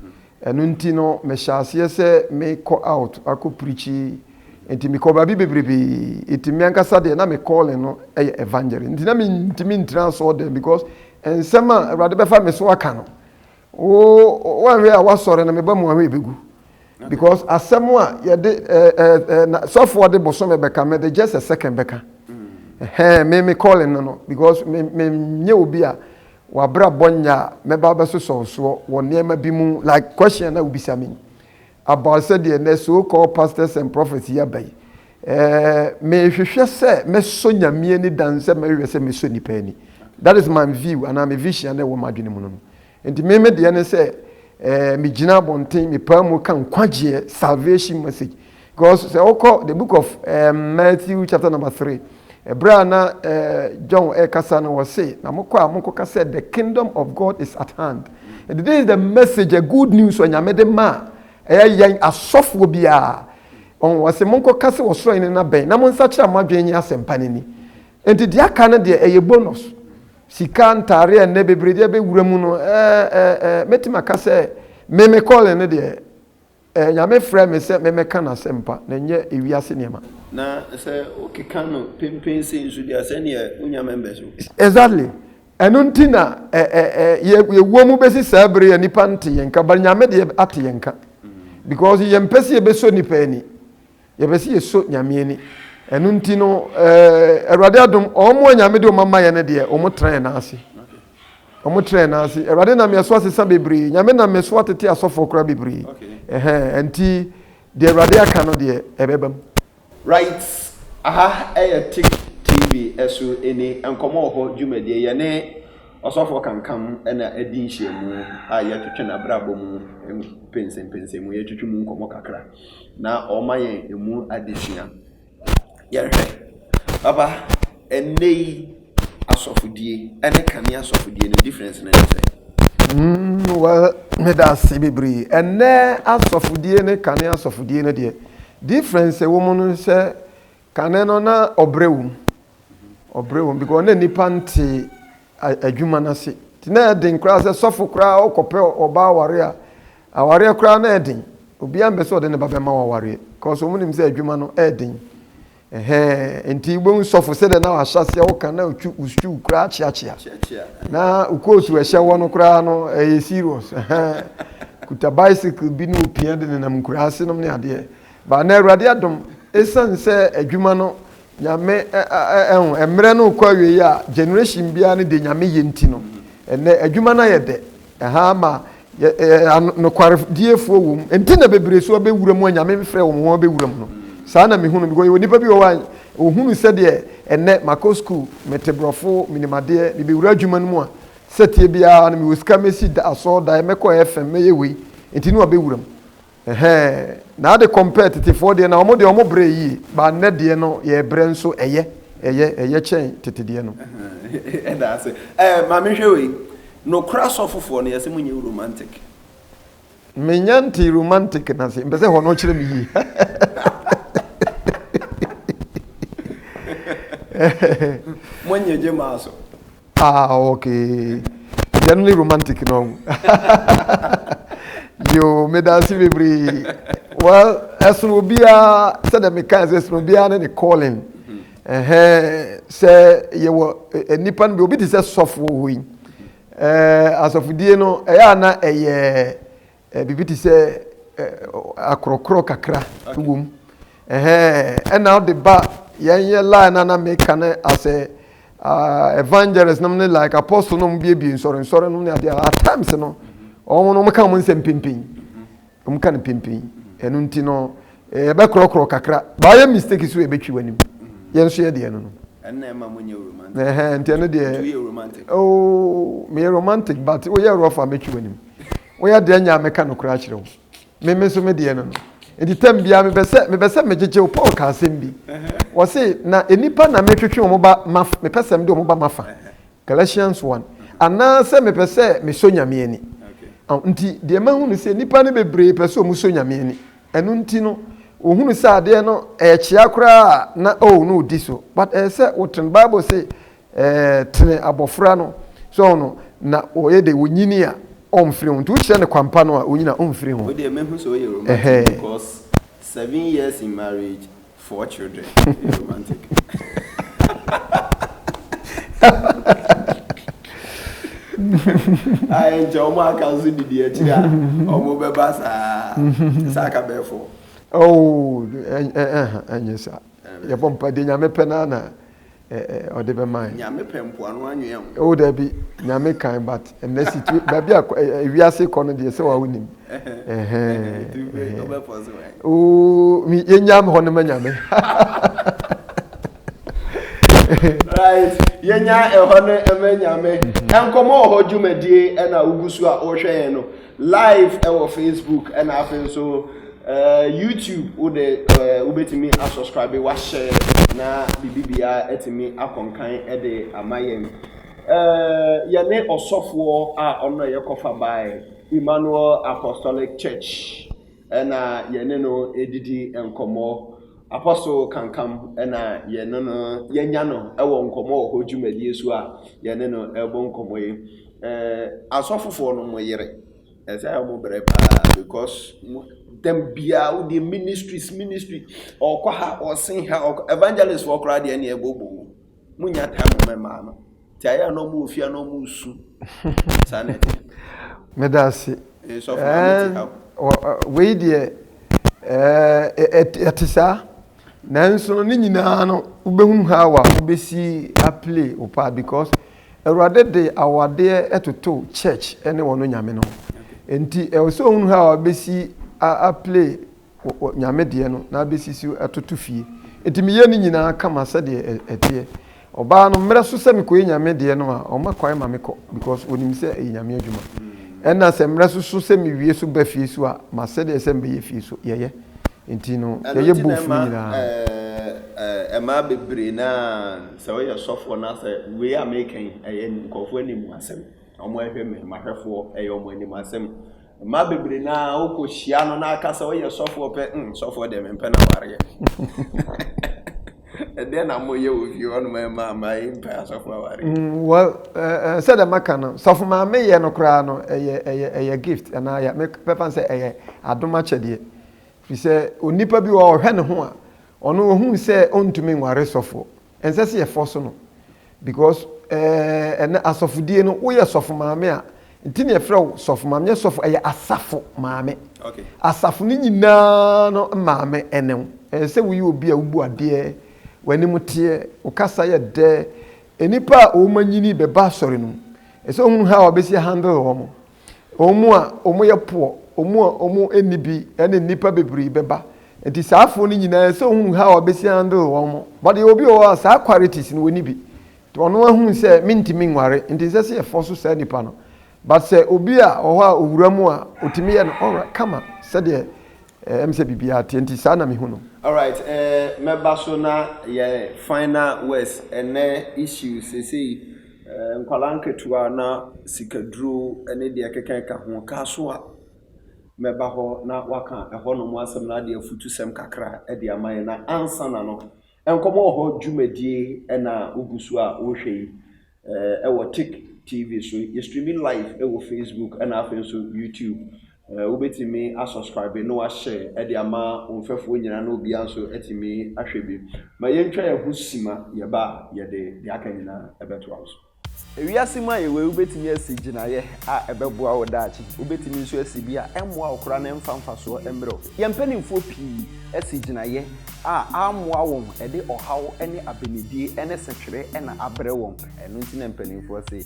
Ɛno nti no mehyɛ aseɛ sɛ me kɔ out akɔ preachi nti me kɔ baabi bebrebee nti me ankasa deɛ na me calling no yɛ evangelist nti na me ntimi ntina asɔɔ dɛm because nsɛm a awurade bɛfa me so aka no wo wanhwɛ a wasɔre no me ba mu ahwɛ ebegu because asɛm a yɛde ɛɛ ɛɛ na sɔfoɔ de bosom bɛka me de just a second bɛka ɛhɛn me me calling no no because me me nyɛ obi a w'abrabɔ nyɛ a mɛba abɛsosɔ wo soɔ wɔ nneɛma bi mu like question a na wobisa me yi about sɛdeɛ nɛ so called pastors and prophets yi aba yi eh, mehwehwɛ sɛ mɛsɔ Nyame ani dan sɛ mɛhwehwɛ sɛ mɛsɔ nipa ani that is my view anaa me vision a na ɛwɔ m'adwene mu no no nti me me deɛ ne sɛ eh, megyina abɔnten mepaa mu ka nkwagyeɛ salvation message Because sɛ wokɔ the book of um, Matthew chapter number three, ɛberɛ a na uh, John ɛrekasa no wɔ se, na mokɔ a monkɔka sɛ the kingdom of God is at hand. And this is the message, a good news wɔ Nyame de ma ɛyɛ yɛn asɔfoɔ biara. Ɔn wɔ se monkɔka sɛ wɔsoro hene no abɛn na monsakyera mo adwene nye asɛmpa no ni. Enti deɛ aka no deɛ ɛyɛ bonus. Sika ntaare a nnɛ bebree deɛ bɛwura mu no, ɛɛ ɛɛ ɛɛ mɛtumi aka sɛ me me calling no deɛ Ɛɛ, Nyame frɛɛ me sɛ memmɛka N'asɛmpa, na ɛnyɛ ewiase nneɛma. Na sɛ wokeka no penpen sei nso deɛ a, sɛdeɛ wonnya members o. Exactly. Ɛno nti na ɛ, ɛ, ɛ, yɛ, yɛwɔ mu bɛsi saa bere yi a nnipa nte yɛn nka, but Nyame deɛ ate yɛn nka. Because yɛmpɛ sɛ yɛbɛsɔ nnipa ani. Yɛpɛ sɛ yɛsɔ Nyame ani. Ɛno nti no eh, Awurade adom, wɔn a Nyame de wɔn ama yɛ no deɛ, wɔn tena yɛn nan ase. Wɔn tena yɛn nan ase. Awurade nam yɛn so asesa bebree. Nyame nam me so atete asɔfoɔ koraa bebree. Ɛhɛn, ɛnti deɛ Awurade aka no deɛ, ɛbɛba mu. Right, aha ɛyɛ Tick TV so ɛni nkɔmmɔ wɔ hɔ dwumadie. Yɛne Ɔsɔfoɔ Kankam na adi nhyiamu a yɛtwetwe n'abrabɔ mu mpɛnsɛmpɛnsɛmu, yɛtwetwe mu nkɔmmɔ kakra. na ɔma yɛn ɛmu adesua. Yɛhwɛ, papa, ɛnnɛ yi asɔfodie ne kane asɔfodie no difference no ne sɛ? Mm, well, meda ase bebree. Ɛnnɛ asɔfodie ne kane asɔfodie no deɛ, difference ɛwɔ mu no sɛ Kane no na ɔbrɛ wɔ mu, ɔbrɛ wɔ mu because na nipa nte adwuma no ase. Nti na ɛyɛ den koraa sɛ sɔfo koraa ɔkɔpɛ ɔbaa aware a, awareɛ koraa na ɛyɛ den. Obiara mpɛ sɛ ɔde ne ba bɛma wɔ awareɛ because wɔn nim sɛ adwuma no ɛyɛ den. Ɛhɛn, nti wobɛhu sɔfo sɛdeɛ na wahyɛ aseɛ woka na otwi wosutwi koraa kyeakyea. Na wokɔɔ su ɛhyɛ wɔ no koraa no ɛyɛ serious. Ɛhɛn, kuta bicycle bi ne opia de nenam nkuraa ase nom ne adeɛ. But na Awurade adom, ɛsiane sɛ adwuma no Nyame ɛho, ɛmmerɛ no rekɔ awieɛ a, generation biara no deɛ Nyame yɛ nti no, ɛnnɛ adwuma no ayɛ dɛ, ɛha ama nokwarediefoɔ wɔ mu, ɛnti na bebree nso abɛwura mu a Nyame mfrɛɛ wɔn wɔn abɛwura mu no. Saa na mehunu no, because yɛwɔ nnipa bi wɔ hɔ a, wɔhunu sɛdeɛ ɛnnɛ makɔ school, mete borɔfo, menim adeɛ, mebɛwura adwuma no mu a, sɛteɛ biara no mewɔ sika mɛsi asɔɔdaeɛ, mɛkɔ FM, mɛyɛ wei, ɛnti na wɔabɛwura mu. Ɛhɛɛ na ade compare tetefoɔ deɛ na wɔn deɛ wɔn brɛ yie but nnɛ deɛ no yɛ brɛ nso ɛyɛ ɛyɛ ɛyɛ kyɛn tete deɛ no. Ɛda ase ɛɛ maame hwɛ wei nokora sɔfofoɔ no yɛsɛ mo nyɛ romantic. Me nya ntee romantic na se mpɛsɛ hɔ no kyerɛ me yie Mo nyɛ gye maa so. Ah okay, generally romantic no. Yo, me dansi bebree. Well, ɛsono obiara sɛdeɛ meka sɛ ɛsono obiara ne ne calling. Sɛ yɛwɔ nnipa no bi obi te sɛ sɔfo wɔ hɔ yi. Asɔfodie no ɛyɛ a na ɛyɛ Biribi te sɛ akorɔkorɔ kakra wɔ mu. Ɛna ɔde ba yɛn yɛ line na na meka no asɛ evangelist nom ne like apostle nom biebie nsɔre nsɔre nom ne adeɛ at times no wɔn no wɔka wɔn nsɛm pimpin wɔn ka no pimpin ɛno nti no yɛbɛkorɔkorɔ kakra baayɛ mistake so yɛbɛtwi wɔn anim yɛn nso yɛ deɛ no no. ɛnna ɛma mo nyɛ romantic. ɛhɛn nti ɛno deɛ. nti yɛ romantic. ooo oh, meyɛ romantic but woyɛ rough a mɛtwi w'anim. Woyɛ deɛ nya meka nokorɛ akyerɛ wo. Me me nso me deɛ no no. Nti tɛm biara mepɛ sɛ mepɛ sɛ megyegye wo. Paul ka asɛm bi. Wɔse na nnipa na metwetwe wɔn ba mafa mepɛ sɛ mede wɔn ba mafa. Galatians 1. Anaasɛ mepɛ sɛ mesɔ Nyame ani. Nti deɛ mahu no sɛ nnipa no bebree pɛ sɛ wɔn sɔ Nyame ani. Ɛno nti no wɔhunu sɛ adeɛ no ɛyɛ kyea koraa a na oh no ɔdi so. But ɛyɛ sɛ wotene Bible se Ɛɛ tene abɔfra no so ɔho no na ɔyɛ dɛ ɔnyini a ɔmfiri ho nti wokyerɛ no kwanpa no a ɔnyini a ɔmfiri ho. Wei deɛ mɛhu sɛ woyɛ romantic because seven years in marriage four children ɛyɛ romantic. a ɛnkyɛ wɔn aka nso didi akyiri a wɔn bɛba saa sɛ aka bɛyɛ fɔ. oo ɛnyɛ saa yɛbɔ mpa deɛ nyame pɛ no ana ɔde bɛmaɛ. Nyame pɛ mpoano anwea o. Oh dabi Nyame kan but ɛnɛ situa baabi a wiase kɔ no deɛ sɛ wa wonim. Oh me yɛnya hɔ no ma Nyame. Right yɛnya ɛhɔ no ma Nyame. Nkɔmmɔ wɔ hɔ dwumadie ɛna wogu so a wohwɛ yɛn no. Live wɔ Facebook ɛna afei nso ɛɛ YouTube wo de ɛɛ wobɛtumi asubscribe wahyɛ na biribiara atumi akɔnkan ɛde ama yɛn. Ɛɛ yɛne ɔsɔfoɔ a ɔno na yɛkɔfa baeɛ Emmanuel Apostolic Church. na yɛne no didi nkɔmmɔ. Apostle Kankam na yɛne no yɛanya no wɔ nkɔmmɔ wɔ hɔ dwumadie so a yɛne no rebɔ nkɔmmɔ yi. Asɔfofoɔ no mo yere ɛsɛ a wɔn brɛ paa because dɛm biara wodeɛ ministries ministry ɔkɔ ha ɔsen ha evangelist foɔ koraa deɛ ɛne ɛbɔ bɔ mu nya time mɛma no. Nti ayɛ a na ɔmo wɔ fie a na ɔmo resu. Saa na ɛte. Meda ase. Ee, sɔfo na Ɛɛ, mete ha. wɔ- ɛ, wei deɛ ɛɛ, ɛ- ɛte ɛte saa nanso no ne nyinaa no wobɛhunu how a wobɛsi aplay wo part because awurade de awadeɛ ɛtoto church ne wɔn nyame no ho nti ɛwɔ sɛ ohunu how a wobɛsi a- aplay wɔ Nyame deɛ no na abɛsisi atoto fie. Enti meyɛ ne nyinaa kama sɛdeɛ ɛteɛ. Ɔbaa no, mmerɛ so sɛ mekɔyɛ Nyame deɛ no a, ɔma kwan ma mekɔ because ɔnim sɛ ɛyɛ Nyame adwuma. Ɛna sɛ mmerɛ so so sɛ mewie so ba fie so a, masɛdeɛ sɛ mebɛyɛ fie so, yɛyɛ. Enti no, yɛyɛ both no nyinaa. Ɛmaa bebree no ara, sɛ woyɛ sɔfoɔ no a, sɛ wei a meka yi, ɛyɛ nkorɔfoɔ anim asɛm. Wɔhwɛ me, m'ahwɛfoɔ, ɛyɛ wɔn anim asɛm. Mmaa bebree no ara wokɔhyia no na aka sɛ ɔyɛ sɔfoɔ pɛ, mm, sɔfoɔ deɛ mempɛ no awareɛ. Ɛdeɛ na moyɛ wɔ fie hɔ nom ɛma ama yɛmpɛ asɔfoɔ awareɛ. Mm, well, uh, uh, sɛdeɛ maka no, sɔfo maa meyɛ no koraa no, ɛyɛ, ɛyɛ, ɛyɛ gift, anaa yɛ, mɛfa no sɛ ɛyɛ adom akyɛdeɛ. Firi sɛ, onipa bi wɔ ɔhwɛ ne ho a, ɔno ohun sɛ ɔntumi nware sɔfoɔ. Ɛnsɛ sɛ yɛ force no because eh, ɛnɛ asɔfodie no woyɛ sɔfo maame a nti na yɛfrɛ wo sɔfo maame nyɛ sɔfo ɛyɛ asafo maame okay. asafo no nyinaa no maame ɛne wo ɛyɛ sɛ woyɛ obi a wobu adeɛ w'anim teɛ wo kasa yɛ dɛ nnipa a wɔn anyini bɛba asɔre no mu ɛsɛ ohun ha a wɔbɛsi handle wɔn wɔn a wɔyɛ poɔ, wɔn a wɔnni bi ne nnipa bebree bɛba. Nti saa afoɔ no nyinaa sɛ ohunu ha a ɔbɛsi handle wɔn mo. But yɛ obi wɔ hɔ a saa qualities no wɔnni bi. Nti ɔno ahunu sɛ mentumi nware nti nsɛ sɛ yɛfɔ so saa nipa no. But sɛ obi a ɔhɔ a owura mu a ɔtumi yɛ no ɔra kama sɛdeɛ ɛm sɛ biribiara teɛ nti saa na mehu no. Alright eh mɛba so na yɛ final words ɛnɛ issues sesei. Nkwadaa nketewa na sikaduro ne deɛ ɛkeka keka ho kaa so a mɛba hɔ na waka ɛhɔ nom asɛm na adeɛ afutu sɛm kakra de ama yɛ na ansa na no nkɔmɔ wɔ hɔ dwumadie na wogu so a wohwɛ yi ɛwɔ tik tv so yɛ streaming live ɛwɔ facebook ɛna afei nso youtube Eh, wobɛtumi asubscribe na wahyɛ de ama wo mfɛfoɔ nyinaa na obiara nso atumi ahwɛ bi. Ma yɛntwa yɛn ho sima yɛba a yɛde deɛ aka nyinaa ɛbɛtoa wo so. Ewiase mu a yɛwɔ yi, wobɛtumi asi gyinaeɛ a ɛbɛboa wo daakye. Wobɛtumi nso asi bi a ɛmmoa wo koraa na ɛmfa mfasoɔ mmerɛ wo. Yɛn mpanimfoɔ pii asi gyinaeɛ a ammoa wɔn, ɛde ɔhaw ne abenedie ne setwere na abrɛ wɔn. Ɛno nti na mpanimfoɔ se,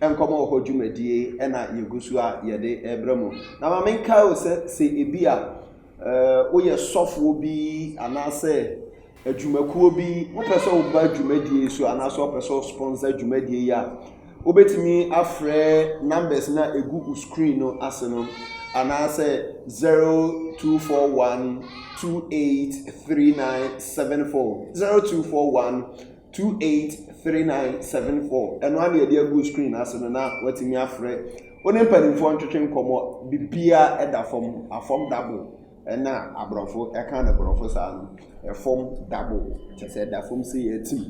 Nkɔmmɔ Hɔ Dwumadie na yɛgu so a yɛde rebrɛ mo. Na ma menkae o sɛ, sɛ ebi a woyɛ sɔfoɔ bi anaasɛ adwumakuo bi, wopɛ sɛ woba dwumadie yi so anaasɛ wopɛ sɛ wosponsor dwumadie yi a, wobɛtumi afrɛ numbers no a ɛgu wo screen no ase no anaasɛ 0241 283974 0241 Two eight three nine seven four ɛno ara na yɛde agu screen no ase no na watumi afrɛ wo ne mpanimfoɔ ntwetwe nkɔmmɔ bibia ɛda fam afam dabo ɛna aborɔfo ɛka ne borɔfo saa no ɛfam dabo kyɛ sɛ ɛda fam sɛ yɛatim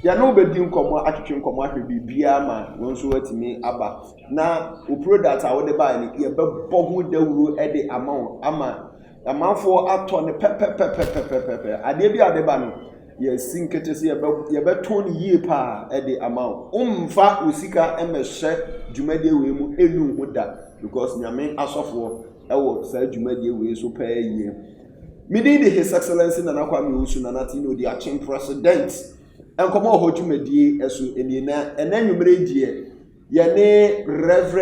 yɛne wo bɛdi nkɔmmɔ atwetwe nkɔmmɔ ahwɛ bibia ma wo nso watumi aba na wo product a wode baeɛ no yɛbɛbɔ ho dawuro ɛde ama wo ama Amanfoɔ atɔ no pɛpɛpɛpɛpɛpɛpɛ. Adeɛ bi a ɛde ba no, yɛasi nkete sɛ yɛbɛ yɛbɛtɔn no yie paa de ama wo. Wommfa wo sika mmɛhyɛ dwumadie wei mu nnu ho da because Nyame asɔfoɔ wɔ saa dwumadie wei so paa yie. Me din de His Excellency Nana Kwame Owusu Nana Tvin Odi Akyem President. Nkɔmmɔ wɔ hɔ dwumadie so nie na ɛnɛ anwummerɛ yi deɛ Yɛne Rev.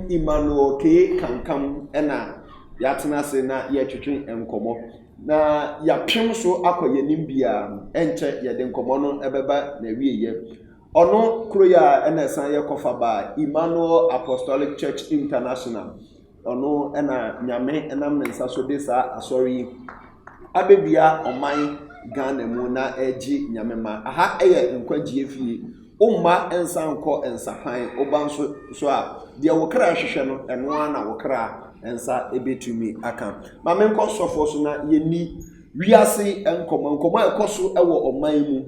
Emmanuel K. Kankam na yɛatena ase na yɛretwetwe nkɔmmɔ, na yɛapem so akɔ yɛn anim biara no, ɛnkyɛ yɛde nkɔmmɔ no bɛba n'awieeɛ. Ɔno koro yi a ɛna ɛsan yɛ kɔfa baa Emmanuel Apostolic Church International. Ɔno na Nyame nam ne nsa so de saa asɔre yi abɛdua ɔman Ghana mu na ɛregye Nyame mma. Aha yɛ nkwagyeɛ fie. Wo mma nsa nkɔ nsapan, wo ba nso so a, deɛ wo kra hwehwɛ no, ɛno ara na wo kra nsa bɛtumi aka. Ma menkɔ sɔfoɔ so na yɛnni wiase nkɔmmɔ, nkɔmmɔ a ɛkɔ so wɔ ɔman mu.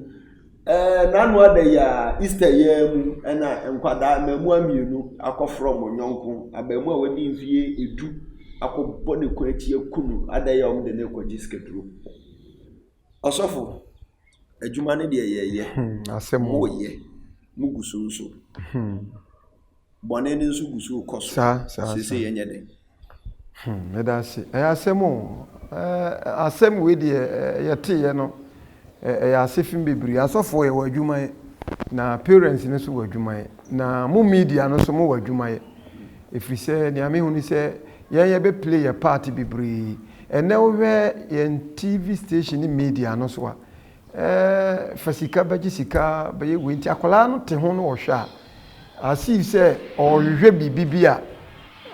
Ɛɛ, n'ano ada yi ara, Easter yi ara mu na nkwadaa mmaamua mmienu akɔfrɔm wɔn yɔnko abaamua a wadi mfeɛ edu akɔbɔ ne kɔn akyi aku no adɛn a wɔde no rekɔgye sikaduro. Ɔsɔfo, adwuma no deɛ yɛyɛ, hmm, moyɛ, mogu so nso. Hmm. bɔne no nso gu so rekɔ so seesei, yɛnyɛ dɛn? Hmm, ɛda ase. Ɛyɛ asɛm o. Asɛm wei deɛ yɛteeɛ no, ɛyɛ ase fem bebree. Asɔfoɔ yɛwɔ adwuma yɛ, na parents no nso wɔ adwuma yɛ, na mo media no nso mowɔ adwuma yɛ. Ɛfiri sɛ nea mehu ne sɛ yɛn yɛbɛ play yɛ part bebree. Ɛnɛ wohwɛ yɛn TV station ne media no so a, Ɛɛ fa sika bɛgye sika bɛyɛ wei nti akwadaa no te ho no ɔhwɛ a asii sɛ ɔrehwehwɛ biribi bi a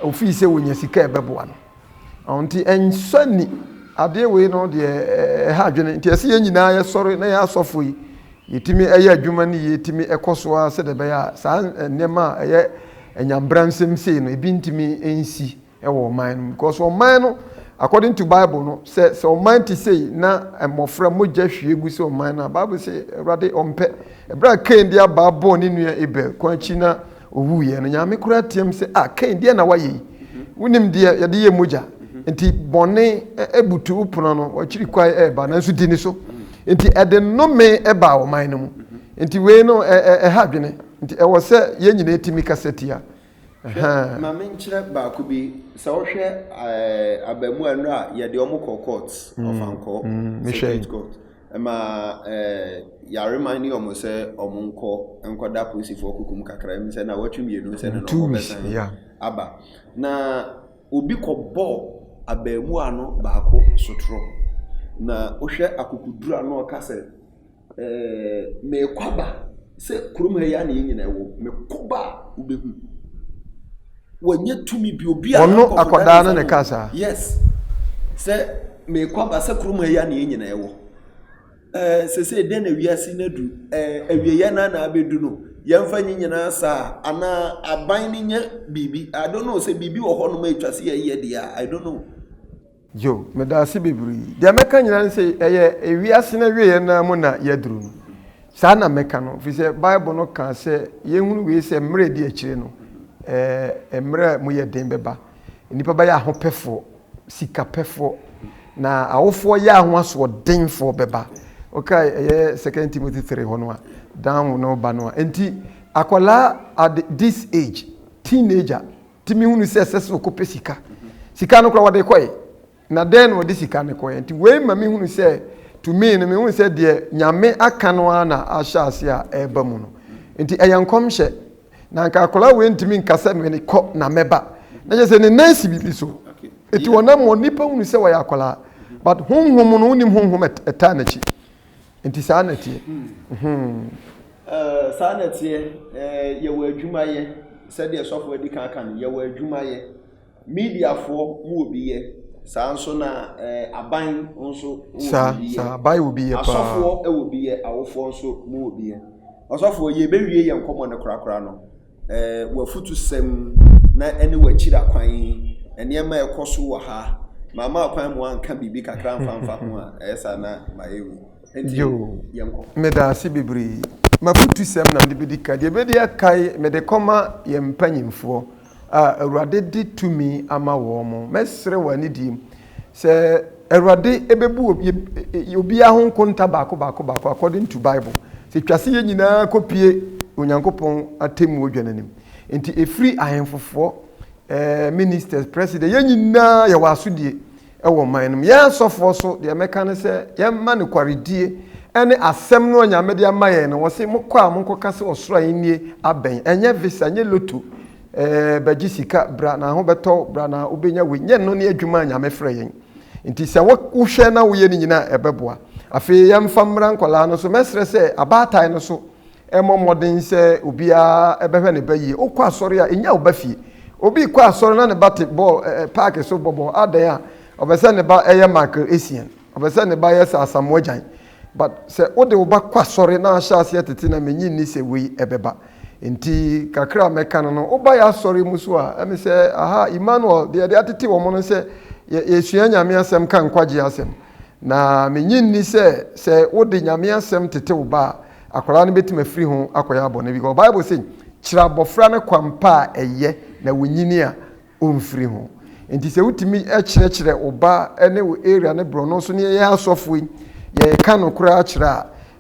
ofii sɛ wɔnya sika ɛbɛboa no nti ɛnsɔ ni adeɛ wei no deɛ ɛha adwene nti ɛsɛ yɛn nyinaa yɛsɔre na yɛn asɔfo yi yɛtumi ɛyɛ adwuma no yie tumi ɛkɔ so ara sɛdeɛ ɛbɛyɛ a saa nneɛma a ɛyɛ anyambra nsɛm sei no ebi ntumi nsi wɔ ɔman no mu because ɔman no according to bible no sɛ sɛ ɔman te sei na mmɔfra mogya hwie gu sɛ ɔman no a bible sɛ awurade ɔmpɛ ɛberɛ a kain de abaa bɔɔ ne nua abel kwan akyi na ɔwuiɛ no nyame koraa team sɛ a ah, kain deɛ na wayɛ yi wonim deɛ yɛde yɛ mogya nti bɔne abutu wo pono no wakyiri kwae ɛreba nanso di ne so nti ɛde nnome ɛbaa ɔman no mu nti wei no ɛha adwene nti ɛwɔ sɛ yɛn nyinaa tumi kasa tia Hwɛ, ma menkyerɛ baako bi. Sɛ wohwɛ abaamua nnora a yɛde wɔn kɔ court, ɔfa nkɔ, circuit court, ɛma yɛareman ne wɔn sɛ wɔn nkɔ nkɔda polisifoɔ kukum kakra mu sɛ na wɔtwe mmienu sɛ na wɔn bɛsan aba. Na obi kɔbɔɔ abaamua no baako sotorɔ. Na wohwɛ akokoduru a na ɔka sɛ. Ɛɛ mekɔ aba sɛ kurom ha yi ara na yɛn nyinaa wɔ. Mekɔ ba a, wobɛhu. Wɔnyɛ tumi bi obi a. Ɔno akwadaa no na ɛka saa. Yes. Sɛ mekɔ aba sɛ kurom ha yi ara na yɛn nyinaa wɔ. Ɛɛ sese dɛn na wiase no adu? Ɛɛ awieɛ no na abɛdu no. Yɛmfa nyi nyinaa saa anaa aban no nyɛ biribi. I don't know sɛ biribi wɔ hɔnom a ɛtwa sɛ yɛyɛ deɛ a, I don't know. Joe, Medaase bebree. Deɛ mɛka nyinaa ne sɛ, ɛyɛ ewiase no awieɛ no ara mu na yɛaduru no. Saa na mɛka no, ɛfiri sɛ Bible no kaa sɛ yɛnhunu wei sɛ mmerɛ a ɛdi akyire no, ɛɛ, mmerɛ a ɛmu yɛ den bɛba. Nnipa bɛyɛ ahopɛfoɔ, sikapɛfoɔ, na awofoɔ yea ho asoɔdenfoɔ bɛba. Wokae ɛyɛ Second Timothy three hɔ no a, Dan wo ne wo ba no a. Enti, akwadaa at this age, teenager, tumi hunu sɛ ɛsɛ sɛ ɔkɔpɛ sika sika no kora wɔde kɔe na dɛn na wɔde sika no kɔe nti wei ma mehunu sɛ to me no mehunu sɛ deɛ nyame aka no ara na ahyɛ ase a ɛreba mu no nti ɛyɛ nkɔmhyɛ na nka akwadaa wei ntumi nka sɛ mene kɔ na mɛba na kyerɛ sɛ ne nan si biribi so nti wɔnam wɔn nipa hunu sɛ wɔyɛ akwadaa but honhom no wonim honhom ɛtaa n'akyi Nti saa na ɛteɛ. Hmm. Hmm. Eh, saa na ɛteɛ eh, yɛwɔ adwuma yɛ sɛdeɛ sɔfo adi kan ka no yɛwɔ adwuma yɛ mediafoɔ mu wɔ bi yɛ saa nso na eh, aban nso wɔ bi yɛ asɔfoɔ wɔ bi yɛ awofoɔ nso mu wɔ bi yɛ ɔsɔfoɔ yɛbɛwie yɛ nkɔmmɔ no korakora no w'afutusɛm na ɛne w'akyira kwan nneɛma a ɛkɔ so wɔ ha mama akwan mu anka biribi kakra mfamfa ho a ɛyɛ saa na mayɛ wu nti yɛnkɔ meda ase bebree mafutusɛm na mede bɛdi ka deɛ bɛdi akae mede kɔma yɛn mpanyimfoɔ a awurade de tumi ama wɔn mo mɛsrɛ wɔ anidie mu Sɛ Awurade bɛbu obiara ho nkonta baako baako baako according to Bible. Sɛ twa se yɛn nyinaa kɔpue Onyankopɔn atemmuo dwa no anim. Nti ɛfiri ahemfofoɔ, eh, ministers, president, yɛn nyinaa yɛwɔ asodie wɔ man no mu. Yɛn asɔfoɔ so deɛ mɛka ne sɛ yɛmma nokwaredie ɛne asɛm no a Nyame de ama yɛn no. Wɔse mokɔ a monkɔka sɛ ɔsoro ahennie abɛn. Ɛnyɛ visa, ɛnyɛ lotto. Eh bɛgye sika bra na ho bɛtɔ wo bra na wobɛnya wei nyɛ no ne adwuma a Nyame frɛ yɛn nti sɛ wo wohwɛ na woyɛ ne nyina a ɛbɛboa afei yɛmfa mmra nkwadaa no so mɛsrɛ sɛ abaatan no so ɛmmɔ mmɔden sɛ obiara ɛbɛhwɛ ne ba yie wokɔ asɔre a ɛnya wo ba fie obi kɔ asɔre na ne ba te bɔɔl eh, eh paake so bɔbɔ adɛn a ɔbɛ sɛ ne ba ɛyɛ Michael Essien ɔbɛ sɛ ne ba yɛ sɛ Asamoah Gyan But sɛ wode wo ba kɔ asɔre na ahyɛ aseɛ tete na menye nni sɛ wei ɛbɛba. Nti kakra a mɛka no no, woba yɛ asɔre mu so a, ɛne sɛ aha Emmanuel deɛ yɛde atete wɔn no sɛ yɛ, yɛsua Nyame asɛm ka nkwagyeɛ asɛm. Na menye nni sɛ sɛ wode Nyame asɛm tete wo ba a, akwadaa no bɛtumi afiri ho akɔyɛ abɔne because Bible se, Kyerɛ abɔfra no kwan pa a ɛyɛ na wɔnyini a, ɔmfiri ho. Nti sɛ wotumi kyerɛkyerɛ wo ba ne wo area ne borɔno nso ne yɛn asɔfo yi yɛka no koraa kyerɛ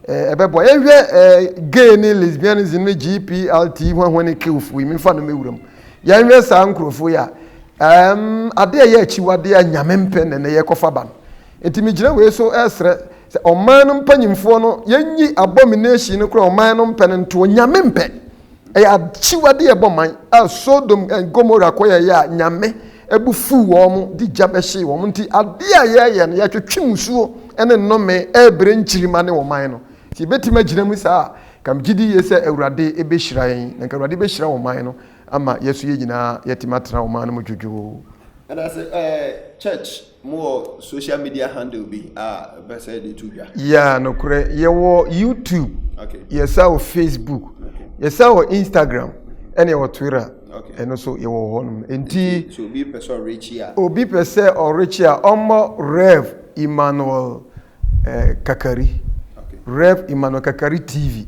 a ɛbɛboa yɛn hwɛ gay ne lesbianism ne GPLT hwahwa ne kewfo yi mefa no mewura mu yɛn hwɛ saa nkurɔfo yi a ɛm ade a ɛyɛ akyiwadeɛ a nyame mpɛ na ɛnɛ yɛkɔfa ba no nti megyina wei so ɛsrɛ Sɛ ɔman no mpanyimfoɔ no yɛnyi abomination no kora ɔman no mpɛ no ntoɔ nyame mpɛ ɛyɛ akyiwade ɛbɔ man a Sodom and Gomorrah kɔ yɛyɛ a nyame ɛbu fuu wɔn de gya bɛhyee wɔn nti adeɛ a yɛyɛ no yɛtwetwe musuo ɛne nnome ɛbrɛ nkyirima ne ɔman no sɛ yɛbɛtumi agyina mu saa a kam gyidi yie sɛ awurade ɛbɛhyira yɛn na nka awurade bɛhyira ɔman no ama yɛso yɛ nyinaa yɛtumi atena ɔman no mu dwodwoo. And I say, uh, church. Mo wɔ social media handle bi a ɛbɛ sɛ de to dwa? Yeah, nokorɛ. Yɛwɔ YouTube. Okay. Yɛsa wɔ Facebook. Okay. Yɛsa wɔ Instagram. Ɛna yɛwɔ Twitter. Okay. Ɛno so yɛwɔ hɔ nom. Nti. So obi pɛ sɛ ɔrekyi a. Obi pɛ sɛ ɔrekyi a ɔmmɔ Rev Emmanuel eh, Kakari. Okay. Rev Emmanuel Kakari TV.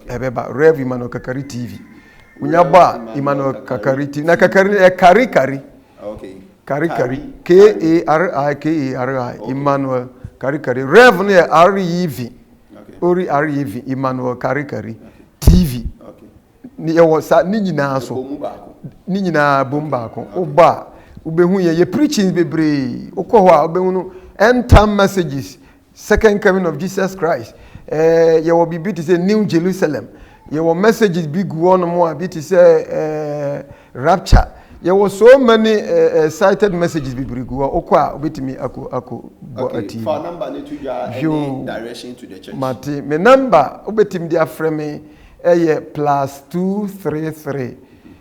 ɛbɛba rev emmanuel kakari tv wonya bɔ a emmanuel kakari tv na kakari ɛ kari kari kari kari k-a-r-i k-a-r-i emmanuel kari kari rev no yɛ r-e-v ori r-e-v emmanuel kari kari tv ne yɛwɔ sa ne nyinaa so ne nyinaa bom baako wobɔ a wobɛhu yɛ yɛ preachings bebree wokɔ hɔ a wobɛhu no end time messages Second coming of Jesus Christ, eh, yɛwɔ biribi te sɛ New Jerusalem, yɛwɔ messages bi gu hɔ nom a bi te sɛ eh, rapture, yɛwɔ so many eh, eh, cited messages bebree gu hɔ, wokɔ a wobɛtumi akɔ akɔ bɔ Okay, atii fa no. number no to dwa Yo. ɛne direction to the church. Mate, me number wobɛtumi de afrɛ me ɛyɛ plus two three three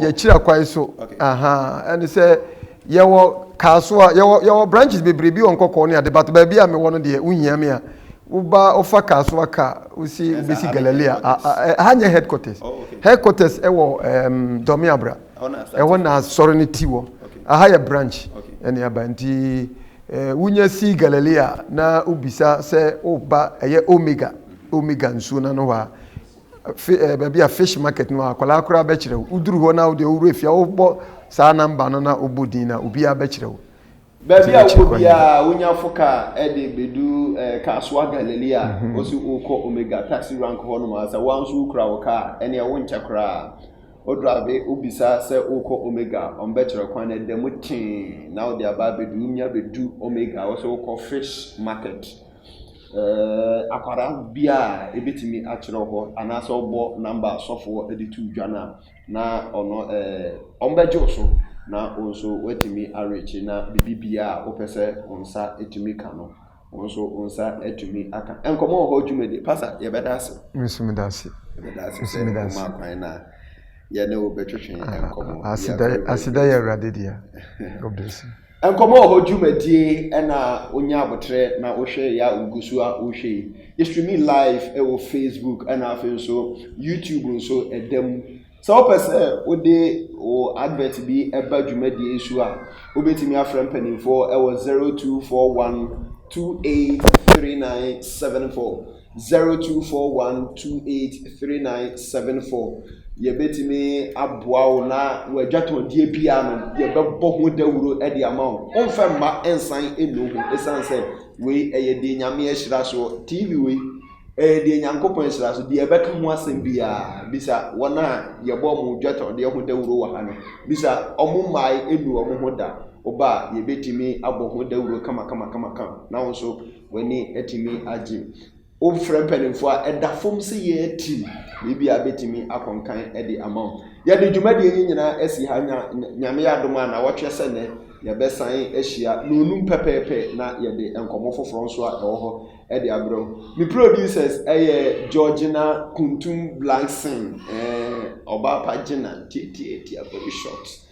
yɛkyira kwae so ɛne sɛ yɛwɔ kaa so a yɛwɔ yɛwɔ branches bebree bi wɔ nkɔkɔɔ ne ade bato baabi a mewɔ no deɛ wohia me a woba wofa kaa so aka wosi wobɛsi galilei a ɛha nyɛ headquarters oh, headquarters ɛwɔ um, dɔme abra oh, ɛhɔ na asɔre no ti wɔ aha yɛ branch ɛne aba nti eh, wonya si galilei a na wobisa sɛ woba ɛyɛ omega omega nsuo no ano hɔ a Fi ɛɛ baabi a fish market no akwadaa koraa bɛkyerɛ wo. Woduru hɔ na wode owura fie a wobɔ saa namba no na wobɔ din na obiara bɛkyerɛ wo. Baabi a wokɔ biara wonya fo kaa de bedu ɛɛ Kasoa Galilee a mhm. wosi wokɔ Omega taxi rank hɔ nom asa wɔn nso wokura wo kaa ɛnea wonkyɛ koraa. Wodrave wobisa sɛ wokɔ Omega wɔn bɛkyerɛ kwan na ɛda mu tee na wode aba abedu wonya bedu Omega wɔsi wokɔ fish market Ɛɛ akwadaa bi a ebetumi akyerɛw hɔ anaasɛ ɔbɔ nɔmba a sɔfoɔ de to dwa no a, na ɔno ɛɛ wɔbɛgye wo so na wo nso woatumi arekye na biribiara a wopɛ sɛ wo nsa tumi ka no, wo nso wo nsa atumi aka. Nkɔmmɔ wɔ hɔ dwumadi. Pasa, yɛbɛda ase. Nso meda ase. Yɛbɛda ase sɛ meda ase. ɔma kwan na yɛne wo bɛtwetwe nkɔmmɔ. Aseda aseda yɛ Awurade dea. God bless you. Nkɔmmɔ wɔ hɔ dwumadie na wonya aboterɛ na wohwɛ yɛ a wogu so a wohwɛ yi. Yɛ streami live wɔ Facebook na afei nso YouTube nso ɛda mu. Sɛ wopɛ sɛ wode wo advert bi ba dwumadie yi so a, wobɛtumi afrɛ mpanimfoɔ wɔ 0241 283974. Zero two four one two eight three nine seven four Yɛbɛtumi aboa wo na w'adwatɔndeɛ biara no yɛbɛbɔ ho dawuro de ama wo. Womfa mma nsan nnu ho ɛsiane sɛ wei ɛyɛ deɛ Nyame ahyira soɔ. TV wei ɛyɛ deɛ Nyankopɔn ahyira so. Deɛ ɛbɛka ho asɛm biara bisa wɔn a yɛbɔ wɔn adwatɔndeɛ ho dawuro wɔ ha no. Bisa wɔn mmae nnu wɔn ho da. Woba a yɛbɛtumi abɔ ho dawuro kama kama kama kama na wo nso W'ani atumi agye. Wofrɛ mpanimfoɔ a, ɛda fam sɛ yɛn tim biribi a bɛtumi akɔnkan de ama wo. Yɛde dwumadie yi nyinaa asi ha nya nyame adom a na wɔtwɛ sɛ nɛ yɛbɛsan ahyia na onum pɛpɛɛpɛ na yɛde nkɔmmɔ foforɔ nso a ɛwɔ hɔ de abrɛ wo. Me producers ɛyɛ Georgina Kuntum Blankson, ɛɛ ɔbaa pa gyina, tiatiatia very short.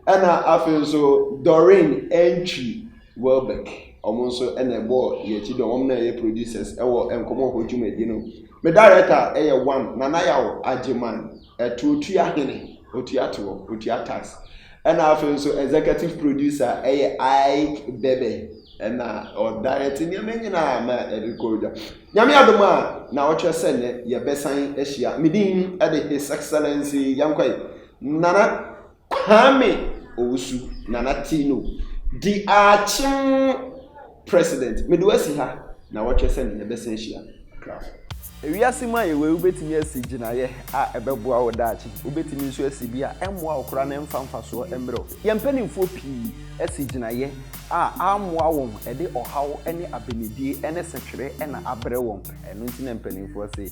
Ɛna afei nso Doreen Antwi Welbeck, wɔn nso na ɛbɔɔ yɛn akyi dɔn, wɔn na ɛyɛ producers ɛwɔ nkɔmɔ hɔ dwumadie no. Me director ɛyɛ one Nana Yaw Agyeman, ɛto otua hene, otua toɔ, otua tax. Ɛna afei nso executive producer ɛyɛ Ike Bebe, ɛna ɔdirect nneɛma nyinaa ma ɛde kɔ dwa. Nyame adom a na ɔtwɛ sɛ nɛ yɛbɛsan ahyia. Me din ɛde His Excellency Yankwae Nana. Kwame Owusu Nana Tino di akyem president mede wo asi ha nawɔtwe sɛn yɛbɛsan ahyia Akrafo. Wiase mu a yɛwɔ yi, wubetumi asi gyinaeɛ a ɛbɛboa wo daakye. Wubetumi nso asi bi a ɛmmoa wo koraa na ɛmfa mfasoɔ mmrɛ wo. Yɛn mpanimfoɔ pii asi gyinaeɛ a ammoa wɔn, ɛde ɔhaw ne abenedie ne setwere na abrɛ wɔn. Ɛno nti na mpanimfoɔ se,